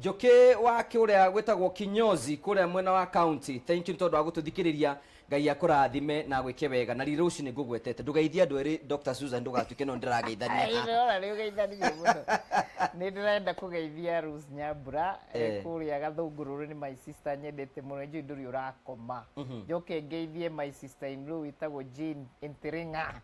Njũkĩ wa kũrĩa gwĩtagwo Kinyozi kũrĩa mwena wa county thank you nĩ tondũ wa gũtũthikĩrĩria Ngai akũrathime na agwĩke wega na riri rũciũ nĩ ngũgwetete ndũgeithie andũ erĩ Dr. Susan ndũgatuĩke no ndĩrageithania Ĩĩ, ndĩrona nĩ ũgeithanirie mũno nĩ ndĩrenda kũgeithia Rose Nyambura eh, Eh. kũrĩa gathũngũrũrũ nĩ my sister nyendete mũno njũĩ ndũrĩ ũrakoma njoke ngeithie my sister in law wĩtagwo Jane Ntiring'a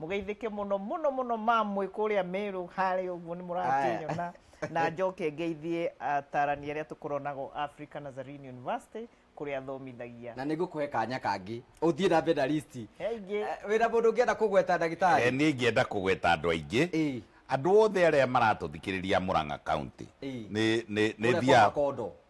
mũgeithĩke mũno mũno mũno mamwĩ kũrĩa mĩrũ harĩa ũguo nĩ mũrakĩnyona na njoke ngeithie atarani arĩa tũkoronago Africa Nazarene University kũrĩa athomithagia na nä ngå kå he kanya kangä å thiä na mbere na listi he ingĩ Eh, wä na må ndå å ngä enda kå gweta ndagä Eh, tarä niä ingĩenda kũgweta andå aingä Ĩĩ. andå othe arä a maratå thikä rä ria må rang'a kauntä Ĩĩ. nä Kũrĩa kwa thiaga Makondo.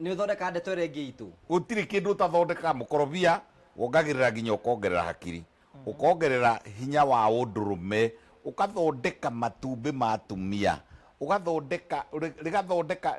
Nĩ ũthondekaga ndeto ĩrĩa ĩngĩ itũ. Gũtirĩ kĩndũ ũtathondekaga. Mũkorobia wongagĩrĩra nginya ũkongerera hakiri, ũkongerera hinya wa ũndũrũme, ũgathondeka matumbĩ ma atumia, ũgathondeka, rĩgathondeka,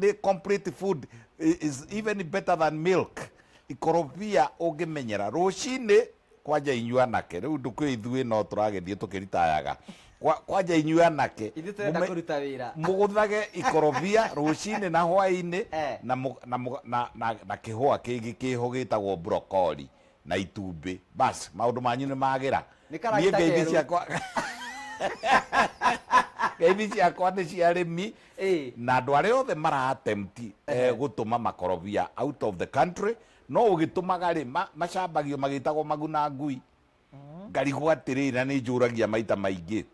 nĩ complete food, is even better than milk. Ikorobia ũngĩmenyera, rũcinĩ kwanja inyuĩ anake rĩu ndũkĩũĩ ithuĩ no tũragĩthiĩ tũkĩritayaga Kwa- kwanja inyuĩ anake Ithuĩ tũrenda mũme- kũruta wĩra. mũgũthage ikorobia rũcinĩ na hwainĩ Eh. na, mũ- na, mũ- na, na, na kĩhũa kĩngĩ kĩho gĩtagwo brokori na itumbĩ basi maũndũ manyu nĩ magĩra Nĩ karagita ngeithi kerũ. ciakwa ngeithi ciakwa nĩ cia rĩmi Ĩĩ. na andũ arĩa othe maratemti eh, gũtũma makorobia out of the country No ũgĩtũmaga-rĩ, ma, macambagio magĩtagwo maguna ngui. Ngarigwo atĩrĩrĩ, na nĩ njũragia maita maingĩ,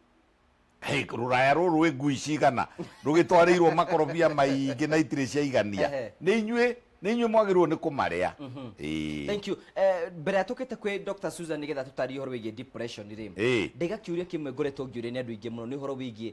Hey, rũraya rũrũ rwĩ ngui cigana rũgĩtwarĩirwo makorobia maingĩ na itirĩ ciaigania Ehe. nĩ inyuĩ nĩ inyuĩ mwagĩrĩirwo nĩ kũmarĩa Ĩĩ. Thank you. Eh, mbere ya tũkĩte kwĩ Dr. Susan nĩgetha tũtarĩrie ũhoro wĩgiĩ depression rĩ, Ĩĩ. ndĩ gakiũria kĩmwe ngoretwo ngĩũria nĩ andũ aingĩ mũno nĩ ũhoro wĩgiĩ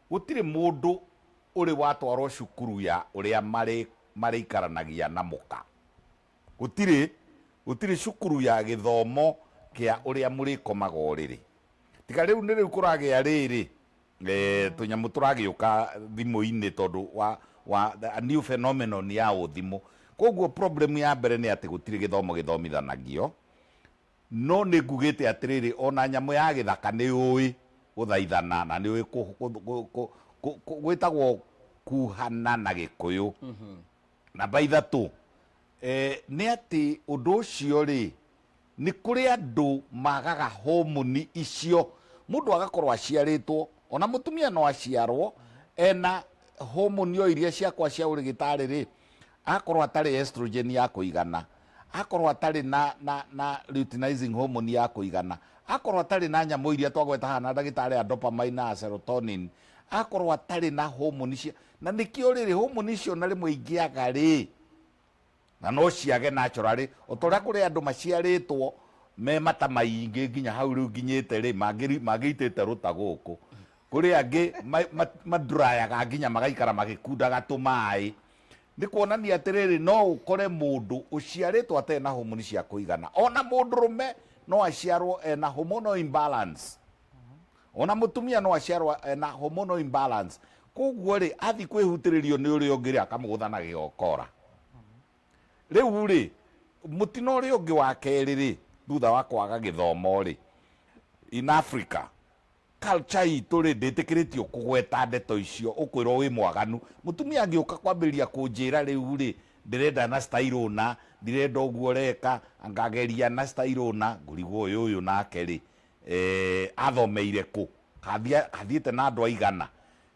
Gũtirĩ mũndũ ũrĩ watwarwo cukuru ya ũrĩa marĩ marĩikaranagia na mũka. Gũtirĩ, gũtirĩ cukuru ya gĩthomo kĩa ũrĩa mũrĩkomaga ũrĩrĩ. Tiga rĩu nĩ rĩu kũragĩa rĩrĩ, eeh, tũnyamũ tũragĩũka thimũ-inĩ tondũ wa, wa, a new phenomenon ya ũthimũ. Kwoguo problem ya mbere nĩ atĩ gũtirĩ gĩthomo gĩthomithanagio, No nĩngugĩte atĩrĩrĩ, o na nyamũ ya gĩthaka nĩyũĩ gũthaithana na nĩyũĩ gwĩtagwo kuhana na gĩkũyũ. Namba ithatũ, nĩ atĩ ũndũ ũcio rĩ, nĩ kũrĩ andũ magaga homoni icio, mũndũ agakorwo aciarĩtwo, o na mũtumia no aciarwo e na homoni o iria ciakwa cia ũrĩgĩtarĩ rĩ, agakorwo atarĩ estrogen ya kũigana. akorwo atarĩ na, na, na luteinizing hormone ya kũigana, akorwo atarĩ na nyamũ iria twagweta haha na ndagĩtarĩ ya dopamine na serotonin, akorwo atarĩ na homoni cia na nĩkĩo rĩrĩ homoni icio na rĩmwe ingĩaga rĩ na no ciage naturally o ta ũrĩa kũrĩ andũ maciarĩtwo me mata maingĩ nginya hau rĩu nginyĩte rĩ mangĩ- mangĩitĩte rũta gũkũ kũrĩ angĩ ma- ma- madrayaga nginya magaikara magĩkundaga tũmaĩ nĩ kuonania atĩrĩrĩ no ũkore mũndũ ũciarĩtwo atarĩ na homoni cia kũigana ona mũndũrũme no aciarwo ena hormonal imbalance ona mũtumia no aciarwo ena hormonal imbalance koguo rĩ athiĩ kwĩhutĩrĩrio nĩ ũrĩa ũngĩ rĩ akamũgũtha na gĩokora rĩu rĩ mũtino ũrĩa ũngĩ wa kerĩ rĩ thutha wa kwaga gĩthomo rĩ in africa Culture itũ rĩ ndĩtĩkĩrĩtio kũgweta ndeto icio ũkwĩrwo wĩ mwaganu. Mũtumia angĩũka kwambĩrĩria kũnjĩra rĩu rĩ ndĩrenda na style ũna, ndirenda ũguo ũreka, anga geria na style ũna, ngũrigwo ũyũ ũyũ nake rĩ eeh athomeire kũ? Kabi athiĩte na andũ aigana?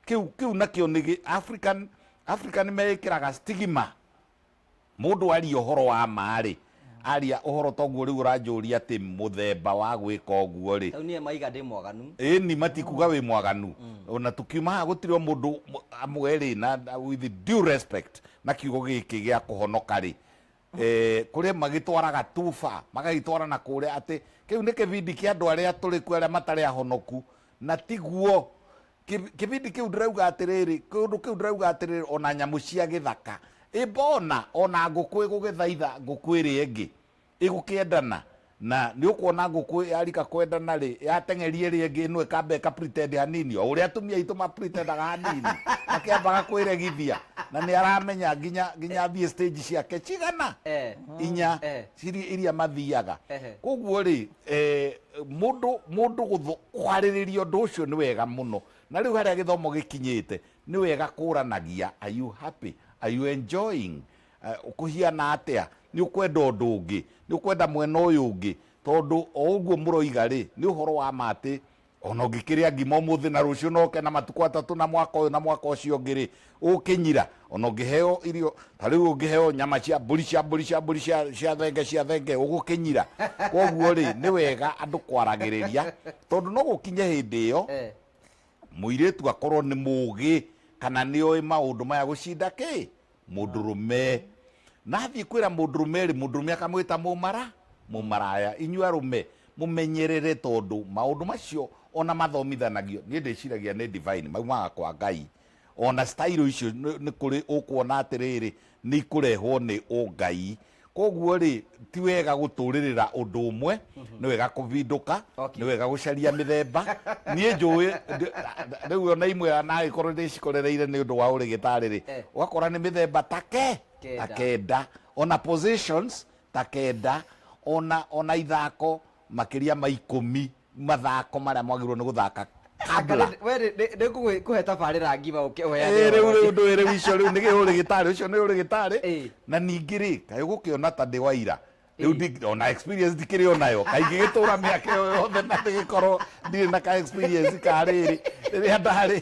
Kĩu kĩu nakĩo nĩ gĩ African African nĩmeĩkĩraga stigma Mũndũ aria ũhoro wa ma-rĩ, aria ũhoro ta ũguo, rĩu ũranjũria atĩ mũthemba wa gwĩka ũguo-rĩ. Rĩu niĩ maiga ndĩ mwaganu? Ĩni, matikuga wĩ mwaganu. O na tũkiuma haha gũtirĩ o mũndũ, amwe-rĩ, na with due respect, na kiugo gĩkĩ gĩa kũhonoka-rĩ, kũrĩ magĩtwaraga too far, magagĩtwara na kũrĩa atĩ kĩu nĩ kĩbindi kĩa andũ arĩa atũrĩku, arĩa matarĩ ahonoku, na tiguo. Ki- kĩbindi kĩu ndĩrauga atĩrĩrĩ kĩũndũ kĩu ndĩrauga atĩrĩrĩ ona nyamũ cia gĩthaka ĩmbona ona ngũkũ ĩgũgĩthaitha ngũkũ ĩrĩa ĩngĩ ĩgũkĩendana na nĩ ũkuona ngũkũ yarika kwendana rĩ yateng'eria ĩrĩa ĩngĩ ĩno ĩkamba ĩka pretend hanini o ũrĩa atumia aitũ mapretendaga hanini makĩambaga kwĩregithia na nĩ aramenya nginya nginya athiĩ stage ciake cigana Eh. inya Eh. ciri- iria mathiaga Ehe. koguo rĩ eh, mundu mundu guthu kwaririria undu ucio ni wega muno na riu haria githomo gikinyite ni wega kuranagia are you happy are you enjoying uh, kuhiana atia ni ukwenda undu ungi ni ukwenda mwena uyu ungi tondu o uguo muroiga ri ni uhoro wa ma ati ona ũngĩkĩrĩa ngima ũmũthĩ na rũciũ no ũke na matukũ atatũ na mwaka ũyũ na mwaka ũcio ũngĩ rĩ ũkĩnyira ona ũngĩheo irio ta rĩu ũngĩheo nyama cia mbũri cia mbũri cia mbũri cia cia thenge cia thenge ũgũkĩnyira koguo rĩ nĩ wega andũ kwaragĩrĩria tondũ no gũkinye hĩndĩ ĩyo Eh. mũirĩtu akorwo nĩ mũgĩ kana nĩ oĩ maũndũ maya gũcinda kĩ mũndũrũme na athiĩ kwĩra mũndũrũme rĩ mũndũrũme akamwĩta mũmara mũmaraya inyuĩ arũme mũmenyerere tondũ maũndũ macio ona mathomithanagio niĩ ndĩciragia nĩ divine maumaga kwa ngai ona stairũ icio nĩ nĩ kũrĩ ũkuona atĩrĩrĩ nĩ ikũrehwo nĩ ũngai koguo rĩ ti wega gũtũrĩrĩra ũndũ ũmwe nĩ wega kũvindũka Okay. nĩ wega gũcaria mĩthemba niĩ njũĩ ndĩ- rĩu ona imwe nagĩkorwo ndĩcikorereire nĩ ũndũ wa ũrĩgĩtarĩ rĩ Eh. ũgakora nĩ mĩthemba ta ke Kenda. ta kenda ona positions ta kenda ona ona ithako makĩria ma ikũmi mathako marĩa mwagĩrĩirwo nĩ gũthaka kabla nĩngũkũhe tabarĩra ngima ũke ũheane rĩu rĩu ndũĩ rĩu icio rĩu nĩ gĩ ũrĩ gĩtarĩ ũcio nĩ ũrĩ gĩtarĩ Ĩĩ. na ningĩ rĩ kaĩ ũgũkĩona ta ndĩ waira rĩu Ĩĩ. ndi- ona experience ndikĩrĩ onayo kaingĩ gĩtũra mĩaka ĩyo yothe na ndĩgĩkorwo ndirĩ na ka experience ka rĩrĩ rĩrĩa ndarĩ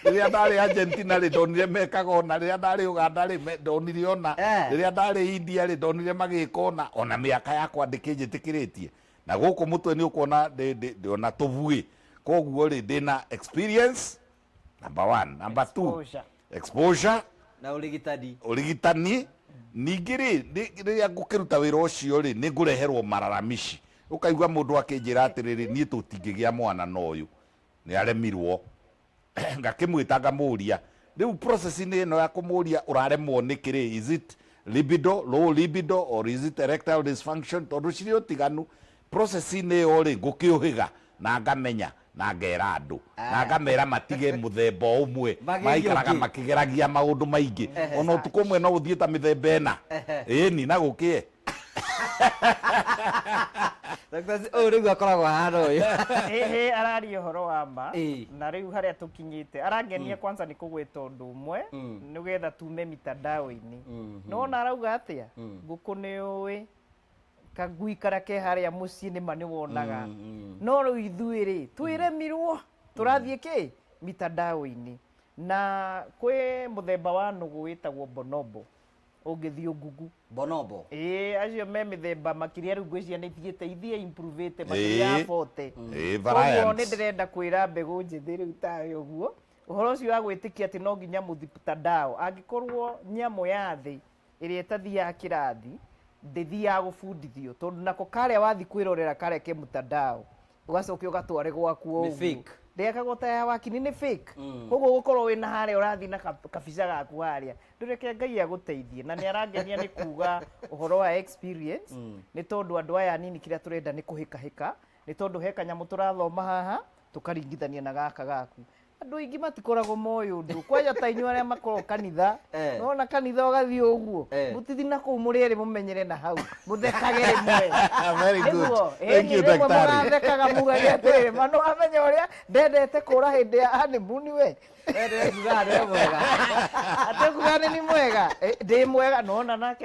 rĩrĩa ndarĩ Argentina rĩ ndonire mekaga ona rĩrĩa ndarĩ Uganda rĩ me- ndonire ona Eh. rĩrĩa ndarĩ India rĩ ndonire magĩka ona ona mĩaka yakwa ndĩkĩnjĩtĩkĩrĩtie Na gũkũ mũtwe nĩ ũkuona ndĩ- ndĩ- ndĩ ona tũbuĩ koguo rĩ ndĩ na experience number one number two Exposure. exposure na ũrigitani ũrigitani ningĩ rĩ nĩ- rĩrĩa ngũkĩruta wĩra ũcio rĩ nĩ ngũreherwo mararamici ũkaigua mũndũ akĩnjĩra atĩrĩrĩ niĩ tũtingĩgĩa mwana na ũyũ nĩaremirwo ngakĩmwĩta ngamũria rĩu process inĩ ĩno ya kũmũria ũraremwo nĩkĩ rĩ is it libido low libido or is it erectile dysfunction tondũ cirĩ ũtiganu process inĩ ĩyo rĩ ngũkĩũhĩga na ngamenya na ngera andũ na ah. ngamera matige mũthemba ũmwe maikaraga makĩgeragia maũndũ maingĩ ona ũtukũ ũmwe no ũthiĩ ta mĩthemba ĩna ĩni na gũkĩe Ndagĩtarĩ ũyũ rĩu akoragwo ahana ũyũ Hehe araria ũhoro wa ma Ĩĩ. na rĩu harĩa tũkinyĩte arangenia kwanza nĩ kũgweta ũndũ ũmwe Mm. nĩgetha tume mitandao-inĩ Mhm. nona arauga atĩa Mm. ngũkũ nĩ ũĩ kagui karĩa ke harĩa mũciĩ nĩma nĩ wonaga Mm, no rĩu ithuĩ rĩ twĩremirwo tũrathiĩ kĩ mitandao-inĩ na kwĩ mũthemba wa nũgũ wĩtagwo bonobo ũngĩthiĩ ũngugu bonobo Ĩĩ, acio me mĩthemba makĩria rĩu ngwĩciria nĩ ithiĩte ithiĩ improvĩte makĩria ya Ĩĩ. bote Ĩĩ, koguo variants. nĩ ndĩrenda kwĩra mbegũ njĩthĩ rĩu tawe ũguo ũhoro ũcio wa gwĩtĩkia atĩ no nginya mũthiputandao angĩkorwo nyamũ ya thĩ ĩrĩa ĩtathiaga kĩrathi ndĩthiaga gũbundithio tondũ nako karĩa wathi kwĩrorera kareke mũtandao ugacoke ugatware gwaku o Nĩ ũguo. fake. ndĩgekagwo ta ya wakini nĩ fake koguo gũkorwo wĩ na harĩa ũrathiĩ na ka- kabica gaku harĩa ndũreke ngai agũteithie na nĩ arangenia nĩ kuga ũhoro wa experience nĩ tondũ andũ aya anini kĩrĩa tũrenda nĩ kũhĩkahĩka nĩ tondũ he kanyamũ tũrathoma haha tũkaringithania na gaka gaku andå aingä matikoragwo moä å ndå kwanja ta inyuä arä a makoragwo kanitha Eh. nona kanitha å gathiä å guo Eh. må tithi na kå u må rä erä må menyere na hau må thekage rä mwe Very good. Nĩguo, Thank ĩni you, rĩmwe daktari. mũrathekaga mugage atĩrĩrĩ ma nĩwamenya ũrĩa ndendete kũra hĩndĩ ya hanimuni we Wee ndĩrekuga nĩ mwega atekuga nĩ ni mwega Eh, ndĩ mwega nona nake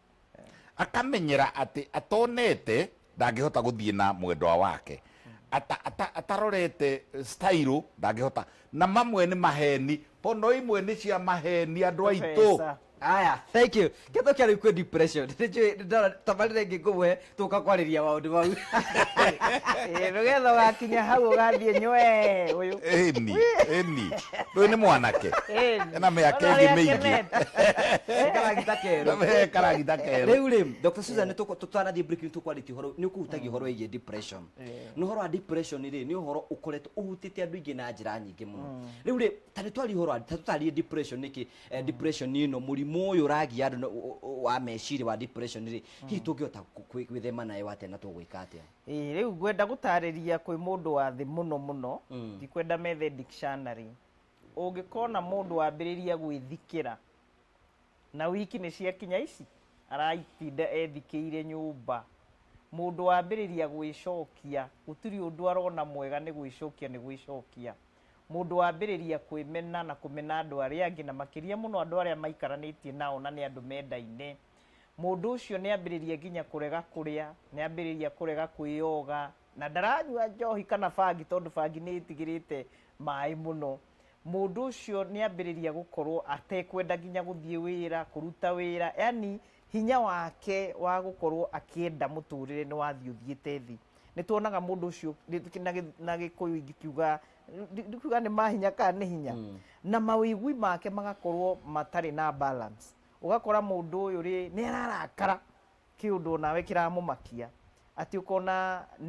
Akamenyera atĩ atonete ndangĩhota gũthiĩ na mwendwa wake ata, ata, atarorete stairũ ndangĩhota na mamwe nĩ maheni pono imwe nĩ cia maheni andũ aitũ Pesa. Aya, thank you. Ketho kia riu kwi depression. Nijui ndara tabarire ngi ngumwe tũka kwarĩria maũndũ mau Eh, nĩgetha ũgakinya hau ũgathiĩ nywe ũyũ ĩni ĩni ndũyũ nĩ mwanake Eh, ena mĩaka ona ĩngĩ ũrĩa mĩingĩ akenete. karagita kerũ He karagita kerũ rĩu rĩ dr susan tũkũ- tũtanathiĩ break nĩ tũkwarĩtie ũhoro nĩ ũkũhutagia ũhoro wĩgiĩ depression nĩ ũhoro wa depression rĩ nĩ ũhoro ũkoretwo ũhutĩte andũ aingĩ na njĩra nyingĩ mũno rĩu rĩ ta nĩ twaria ũhoro wa- ta tũtarĩrie depression nĩkĩ eh, depression ĩno mũrimũ ũyũ ũragia andũ na- o- o- wa meciria wa depression rĩ hihi tũngĩhota kũ- kwĩ- gwĩthema nayo atĩa na tũgwĩka atĩa Ĩĩ, rĩu ngwenda gũtarĩria kwĩ mũndũ wa thĩ mũno mũno Mm. ndikwenda methe dictionary ũngĩkona mũndũ wambĩrĩria gwĩthikĩra na wiki nĩ ciakinya ici aratinda ethikĩire nyũmba mũndũ wambĩrĩria gwĩcokia gũtirĩ ũndũ arona mwega nĩ gwĩcokia nĩ gwĩcokia mũndũ wambĩrĩria kwĩmena na kũmena andũ arĩa angĩ na makĩria mũno andũ arĩa maikaranĩtie nao na nĩ andũ mendaine Mũndũ ũcio nĩ ambĩrĩria nginya kũrega kũrĩa, nĩ ambĩrĩria kũrega kwĩyoga, na ndaranyua njohi kana bangi tondũ bangi nĩ ĩtigĩrĩte maĩ mũno. Mũndũ ũcio nĩ ambĩrĩria gũkorwo atekwenda nginya gũthiĩ wĩra, kũruta wĩra, yaani hinya wake wa gũkorwo akĩenda mũtũrĩre nĩ wathiĩ ũthiĩte thĩ. Nĩ tuonaga mũndũ ũcio na gĩkũyũ ingĩkiuga, ndikuga nĩ mahinya kana nĩ hinya, na mawĩigwi make magakorwo matarĩ na balance. ũgakora mũndũ ũyũ rĩ nĩ ararakara kĩũndũ onawe kĩramũmakia atĩ ũkona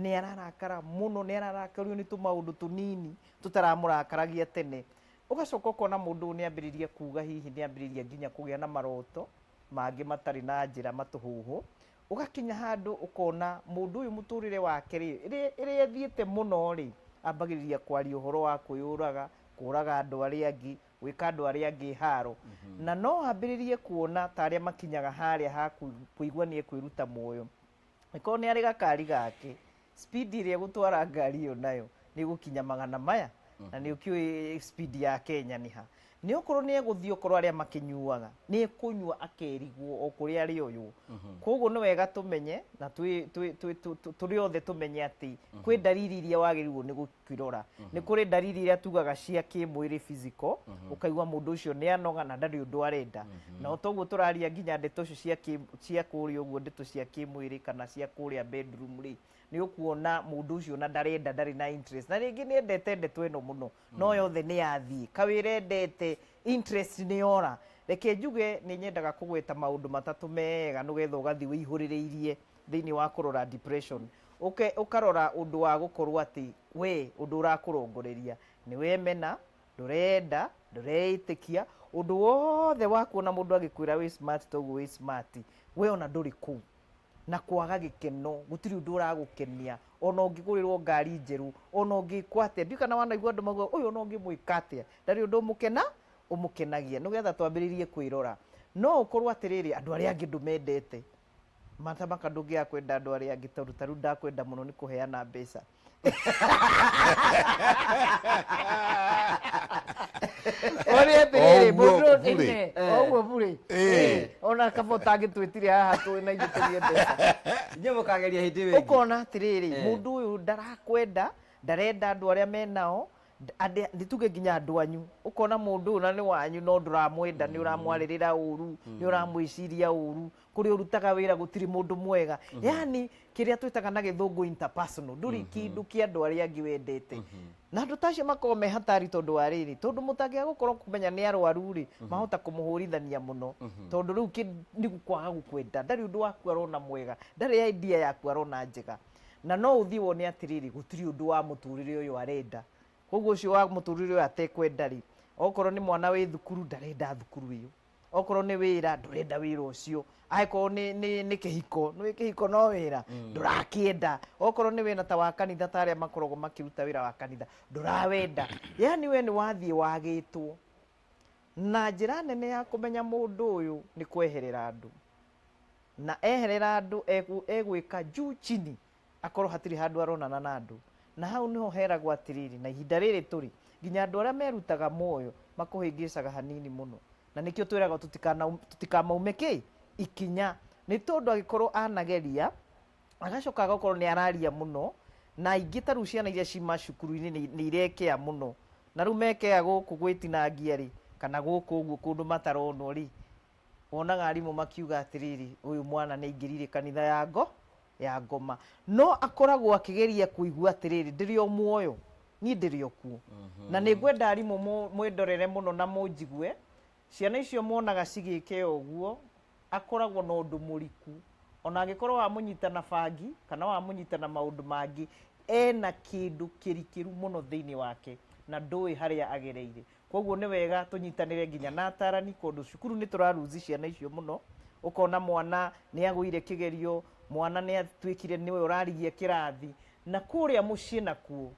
nĩ ararakara mũno nĩ ararakario nĩ tũmaũndũ tũnini tũtaramũrakaragia tene ũgacoka ũkona mũndũ ũyũ nĩ ambĩrĩria kuga hihi nĩ ambĩrĩria nginya kũgĩa na maroto mangĩ matarĩ na njĩra matũhũhũ ũgakinya handũ ũkona mũndũ ũyũ mũtũrĩre wake rĩ ĩrĩa ĩrĩa ĩthiĩte mũno rĩ ambagĩrĩria kwaria ũhoro wa kwĩyũraga kũraga andũ arĩa angĩ gwĩka andũ arĩa angĩ haaro, na no ambĩrĩrie kuona ta arĩa makinyaga harĩa ha kũ- kũigua nĩ ekwĩruta muoyo. Angĩkorwo nĩ arĩ gakari gake, speed ĩrĩa egũtwara ngari ĩyo nayo nĩ ĩgũkinya magana maya, na nĩ ũkĩũĩ speed ya Kenya nĩ ha. Nĩ okorwo nĩ egũthiĩ okorwo arĩa makĩnyuaga, nĩ ekũnyua akerigwo o kũrĩa arĩoywo. Koguo nĩ wega tũmenye na twĩ- twĩ- twĩ- tũ- tũ- tũrĩ othe tũmenye atĩ kwĩ ndariri iria wagĩrĩirwo nĩ gũ- kũirora nĩ kũrĩ ndariri iria tugaga cia kĩmwĩrĩ physical ũkaigua mũndũ ũcio nĩ anoga na ndarĩ ũndũ arenda na toguo tũraria nginya ndeto icio cia kĩ- cia kũrĩa ũguo ndeto cia kĩmwĩrĩ kana cia kũrĩa bedroom rĩ nĩ ũkuona mũndũ ũcio na ndarenda ndarĩ na interest na rĩngĩ nĩ endete ndeto ĩno mũno no yothe nĩ yathiĩ kawĩra endete interest nĩ yora reke njuge nĩ nyendaga kũgweta maũndũ matatũ mega nĩgetha ũgathiĩ wĩihũrĩrĩirie thĩinĩ wa kũrora depression, ũke ũkarora ũndũ wa gũkorwo atĩ wee ũndũ ũrakũrongoreria nĩ wemena, ndũreyenda, ndũreĩtĩkia, ũndũ wothe wakuona mũndũ agĩkwĩra wĩ smart ta ũguo wĩ smart, wee ona ndũrĩ kũu, na kwaga gĩkeno, gũtirĩ ũndũ ũragũkenia, ona ũngĩgũrĩrwo ngari njerũ, ona ũngĩkwo atĩa, ndiũĩ kana wanaigua andũ maugaga ũyũ ona ũngĩmwĩka atĩa, ndarĩ ũndũ ũmũkena, ũmũkenagia, nĩgetha twambĩrĩrie kwĩrora, no ũkorwo atĩrĩrĩ andũ arĩa angĩ ndũmendete, Martha Maka ndũngĩaga kwenda andũ arĩa angĩ tondũ tarĩu ndakwenda mũno nĩ kũheana mbeca ũrĩ atĩrĩrĩ Oguo mũndũ burĩ. nĩne oguo burĩ Eh. ona kaba ũtangĩtwĩtire haha twĩ na ithuĩ tũrĩe mbeca Inyuĩ mũkageria hĩndĩ ĩyo ĩngĩ. ũkona atĩrĩrĩ Eh. mũndũ ũyũ ndarakwenda ndarenda andũ arĩa menao Nda- andĩ- nĩ tuge nginya andũ anyu ũkona mũndũ ũyũ na nĩ wanyu no ndũramwenda nĩ ũramwarĩrĩra ũru nĩ ũramwĩciria ũru kũrĩa ũrutaga wĩra gũtirĩ mũndũ mwega yani kĩrĩa twĩtaga na gĩthũngũ interpersonal ndũrĩ kĩndũ kĩa andũ arĩa angĩ wendete na andũ tacio makorwo me hatari tondũ wa rĩrĩ tondũ mũtangĩga gũkorwo kumenya nĩ arwaru rĩ mahota kũmũhũrithania mũno tondũ rĩu kĩ- nĩ gũkwaga gũkwenda ndarĩ ũndũ waku arona mwega ndarĩ idea yaku arona njega na no ũthiĩ wone atĩrĩrĩ gũtirĩ ũndũ wa mũtũrĩre ũyũ arenda koguo ũcio wa mũtũrĩre ũyũ atekwenda rĩ okorwo nĩ mwana wĩ thukuru ndarenda thukuru ĩyo okorwo nĩ wĩra ndũrenda wĩra ũcio angĩkorwo nĩ, nĩ, nĩ kĩhiko nĩ kĩhiko no wĩra ndũrakĩenda okorwo nĩ wĩra ta wa kanitha ta arĩa makoragwo makĩruta wĩra wa kanitha ndũrawenda yani we nĩ wathiĩ wagĩtwo na njĩra nene ya kũmenya mũndũ ũyũ nĩ kweherera andũ Na eherera andũ, egwĩka juu chini akorwo hatirĩ handũ aronana na andũ. Na hau nĩho heragwo atĩrĩrĩ, na ihinda rĩrĩ tũrĩ, nginya andũ arĩa merutaga muoyo makũhĩngĩcaga hanini mũno. Na nĩkĩo twĩragwo tũtikamaume kĩ? Ikinya. Nĩ tondũ angĩkorwo anageria, agacoka agakorwo nĩ araria mũno, na aingĩ ta rĩu ciana iria ci macukuru-inĩ nĩ irekea mũno. Na rĩu mekea gũkũ gwĩtinangia rĩ, kana gũkũ ũguo kũndũ mataronwo rĩ, Wonaga arimũ makiuga atĩrĩrĩ, ũyũ mwana nĩ aingĩrire kanitha ya ngo ya ngoma, no akoragwo akĩgeria kũigua atĩrĩrĩ, ndĩrĩ o muoyo niĩ ndĩrĩ o kuo na nĩ ngwenda arimũ mũ- mwĩndorere mũno na mũnjigue ciana icio mwonaga cigĩke ũguo akoragwo na ũndũ mũriku ona angĩkorwo wamũnyita na bangi kana wamũnyita na maũndũ mangĩ ena kĩndũ kĩrikĩru mũno thĩinĩ wake na ndũĩ harĩa agereire koguo nĩ wega tũnyitanĩre nginya na atarani kũndũ cukuru nĩ tũraruzi ciana icio mũno ũkona mwana nĩ agũire kĩgerio mwana nĩ atuĩkire nĩwe ũrarigia kĩrathi na kũrĩa mũciĩ nakuo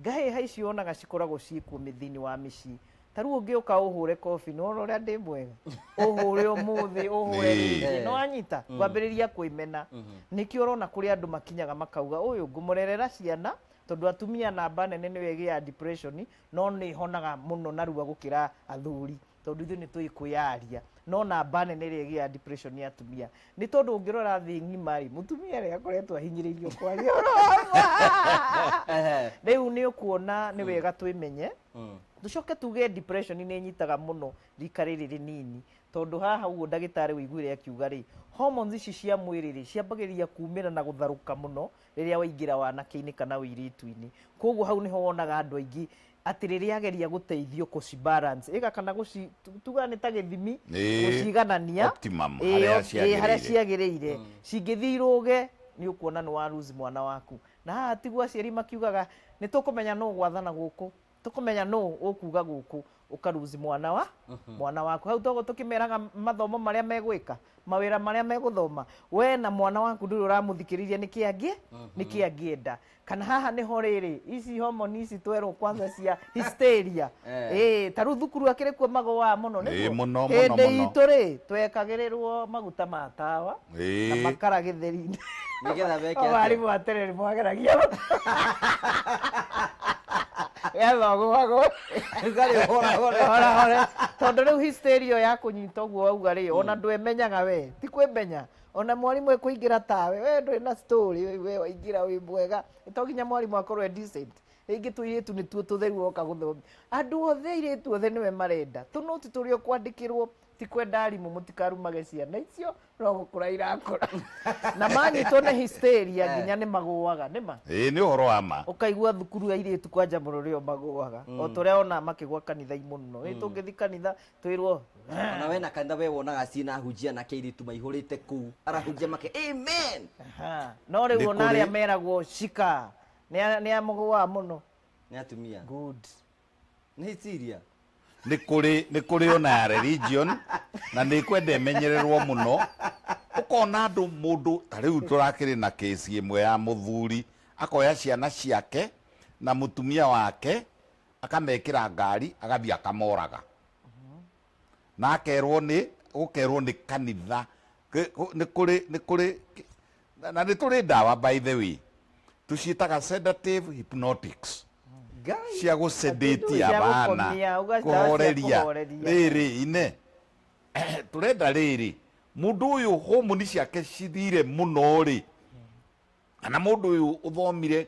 ngahĩha icio onaga cikoragwo ciĩkuo mĩ- thĩinĩ wa mĩciĩ ta rĩu ũngĩũka ũhũre kobi nĩ wona ũrĩa ndĩ mwega ũhũre ũmũthĩ ũhũre Ĩĩ. rĩngĩ nĩ wanyita kwambĩrĩria kwĩmena nĩkĩo ũrona kũrĩ andũ makinyaga makauga ũyũ ngũmũrerera ciana tondũ atumia namba nene nĩwe ĩgĩaga depression no nĩ honaga mũno narua gũkĩra athuri tondũ ithuĩ nĩ tũĩ kwĩyaria no namba nene ĩrĩa ĩgĩaga depression nĩ atumia nĩ tondũ ũngĩrora thĩ ng'ima rĩ mũtumia rĩ akoretwo ahinyĩrĩirio kwaria rĩu nĩ ũkuona nĩ wega twĩmenye tũcoke tuge depression nĩ nyitaga mũno rika rĩrĩ rĩnini tondũ haha ũguo ndagĩtarĩ ũiguire akiuga rĩ hormones ici cia mwĩrĩ rĩ ciambagĩrĩria kumĩra na gũtharũka mũno rĩrĩa waingĩra wanake-inĩ kana ũirĩtu-inĩ. Koguo hau nĩho wonaga andũ aingĩ atĩ rĩrĩa ageria gũteithio kũci balance ĩga kana gũci tu- tuga nĩ ta gĩthimi Ĩĩ, gũciganania optimum, ĩĩ, harĩa op- ĩĩ, harĩa ciagĩrĩire. ciagĩrĩire cingĩthiĩ irũge nĩ ũkuona nĩ wa lose mwana waku na haha tiguo aciari makiugaga nĩ tũkũmenya nũ gwathana gũkũ tũkũmenya nũ ũkuga gũkũ ũkaruzi mwana wa mwana waku hau toguo tũkĩmeraga mathomo marĩa megwĩka mawĩra marĩa megũthoma we na mwana waku ndũrĩ ũramũthikĩrĩria nĩkĩ angĩ nĩkĩ angĩenda kana haha nĩho rĩrĩ ici homoni ici twerwo kwanza cia hysteria Eh. ĩĩ ta rĩu thukuru akĩrĩ kuo magũaa mũno Ĩĩ, nĩguo? mũno, mũno, Hĩndĩ mũno. itũ rĩ twekagĩrĩrwo maguta ma tawa na Ĩĩ. makara gĩtheri-inĩ Nĩgetha meke atĩa? mwarimũ wa terere mwageragia getha ũgũagwo Rugarĩ ũhora hora. hora hora tondũ rĩu hysteria ya kũnyita ũguo wauga rĩ ona ndwemenyaga we ti kwĩmenya ona mwarimũ ekũingĩra tawe we ndũrĩ na story we- we waingĩra wĩ mwega to nginya mwarimũ akorwo e decent rĩngĩ tũirĩtu nĩtuo tũtheru oka gũthomia andũ othe airĩtu othe nĩwe marenda tũnũti tũrĩa ũkwandĩkĩrwo ti kwenda arimũ mũtikarumage ciana icio no gũkũra irakũra na manyitwo nĩ hysteria nginya nĩ magũaga nĩ ma ĩĩ nĩ ũhoro wa ma ũkaigua thukuru ya irĩtu kwanja mũrũrĩ o magũaga o tũrĩa ona makĩgwa kanitha imuno ĩ tũngĩthi kanitha twĩrwo ona we na kanitha we wonaga ciĩna ahunjia na keiritu maihũrĩte kũu arahunjia make amen Aha. no Nĩ rĩu ona arĩa kũrĩ- meragwo cika nĩ amũgũaga mũno nĩ atumia good nä iciria nä kå rä nä kå rä ona ya religion na nä kwenda ĩmenyererwo må no ũkona andå må ndå ta rä u tå rakä rä na kĩsi ĩmwe ya må thuri akoya ciana ciake na må tumia wake akamekĩ ra ngari agathiĩ akamoraga na akerwo nĩ gũkerwo nĩ kanitha Kĩ- kũ- nĩ kũrĩ nĩ kũrĩ kĩ- Na, na nĩ tũrĩ ndawa by the way tũciĩtaga sedative hypnotics Ngai. cia gũcendetia Cia bana gũkomia, ũgacaria cia kũhoreria kũhoreria. rĩrĩ ine tũrenda rĩrĩ mũndũ ũyũ homoni ciake cithire mũno rĩ kana mũndũ ũyũ ũthomire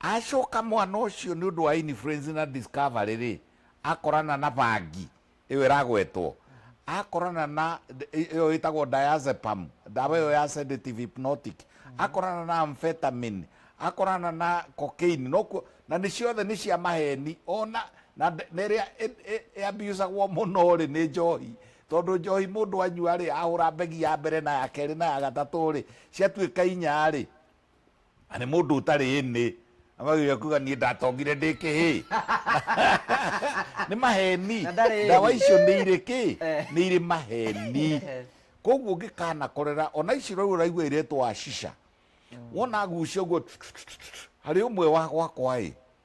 Acoka mwana ũcio nĩ ũndũ wa influence na discovery rĩ, akorana na bangi, ĩyo ĩragwetwo, akorana na ĩyo ĩtagwo diazepam, ndawa ĩyo ya sedative hypnotic, akorana na amphetamine, akorana na cocaine, nokuo, na nĩ ciothe nĩ cia maheni, ona, na ĩrĩa ĩ abuse agwo mũno rĩ, nĩ njohi, tondũ njohi mũndũ anyua rĩ, ahũra mbegi ya mbere na ya kerĩ na ya gatatũ rĩ, ciatuĩka inya rĩ, Na nĩ mũndũ ũtarĩ ĩnĩ amagĩrĩria kuga niĩ ndatongire ndĩ kĩhĩ nĩ maheni Na ndarĩ ĩni. ndawa icio nĩ irĩ kĩ Eh. nĩ irĩ maheni Eh. koguo ngĩkanakorera ona ici rĩu ũraigua iretwo acisha wona agucia ũguo harĩ ũmwe wa gwakwa ĩ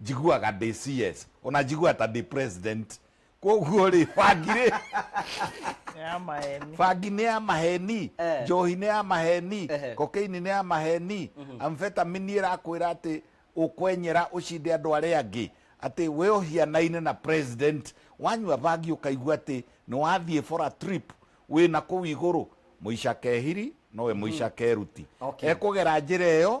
Njiguaga ndĩ CS. Ona njiguaga ta ndĩ president. Koguo rĩ, bangi rĩ, Nĩ ya maeni. bangi nĩ ya maheni, Eh. njohi nĩ ya maheni, Ehe. kokaini nĩ ya maheni, amfetamini ĩrakwĩra atĩ ũkwenyera ũcinde andũ arĩa angĩ atĩ we ũhianaine na president wanyua bangi ũkaigua atĩ nĩ wathiĩ for a trip wĩ na kũu igũrũ mũica kehiri nowe mũica keruti Okay. ekũgera njĩra ĩyo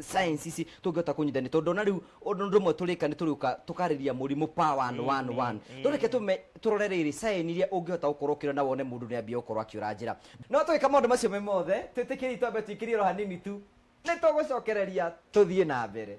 science ici tũngĩhota kũnyitani tondũ ona rĩu ũndũ ũndũ ũmwe tũrĩka nĩ tũrĩũka tũkarĩria mũrimũ power one one Amen, one tũreke tũme tũrore rĩrĩ sign iria ũngĩhota gũkorwo ũkĩona na wone mũndũ nĩ ambia gũkorwo akĩũra njĩra no tũgĩka maũndũ macio me mothe twĩtĩkĩriai twambe tũikĩrie oro hanini tu nĩ tũgũcokereria tũthiĩ na mbere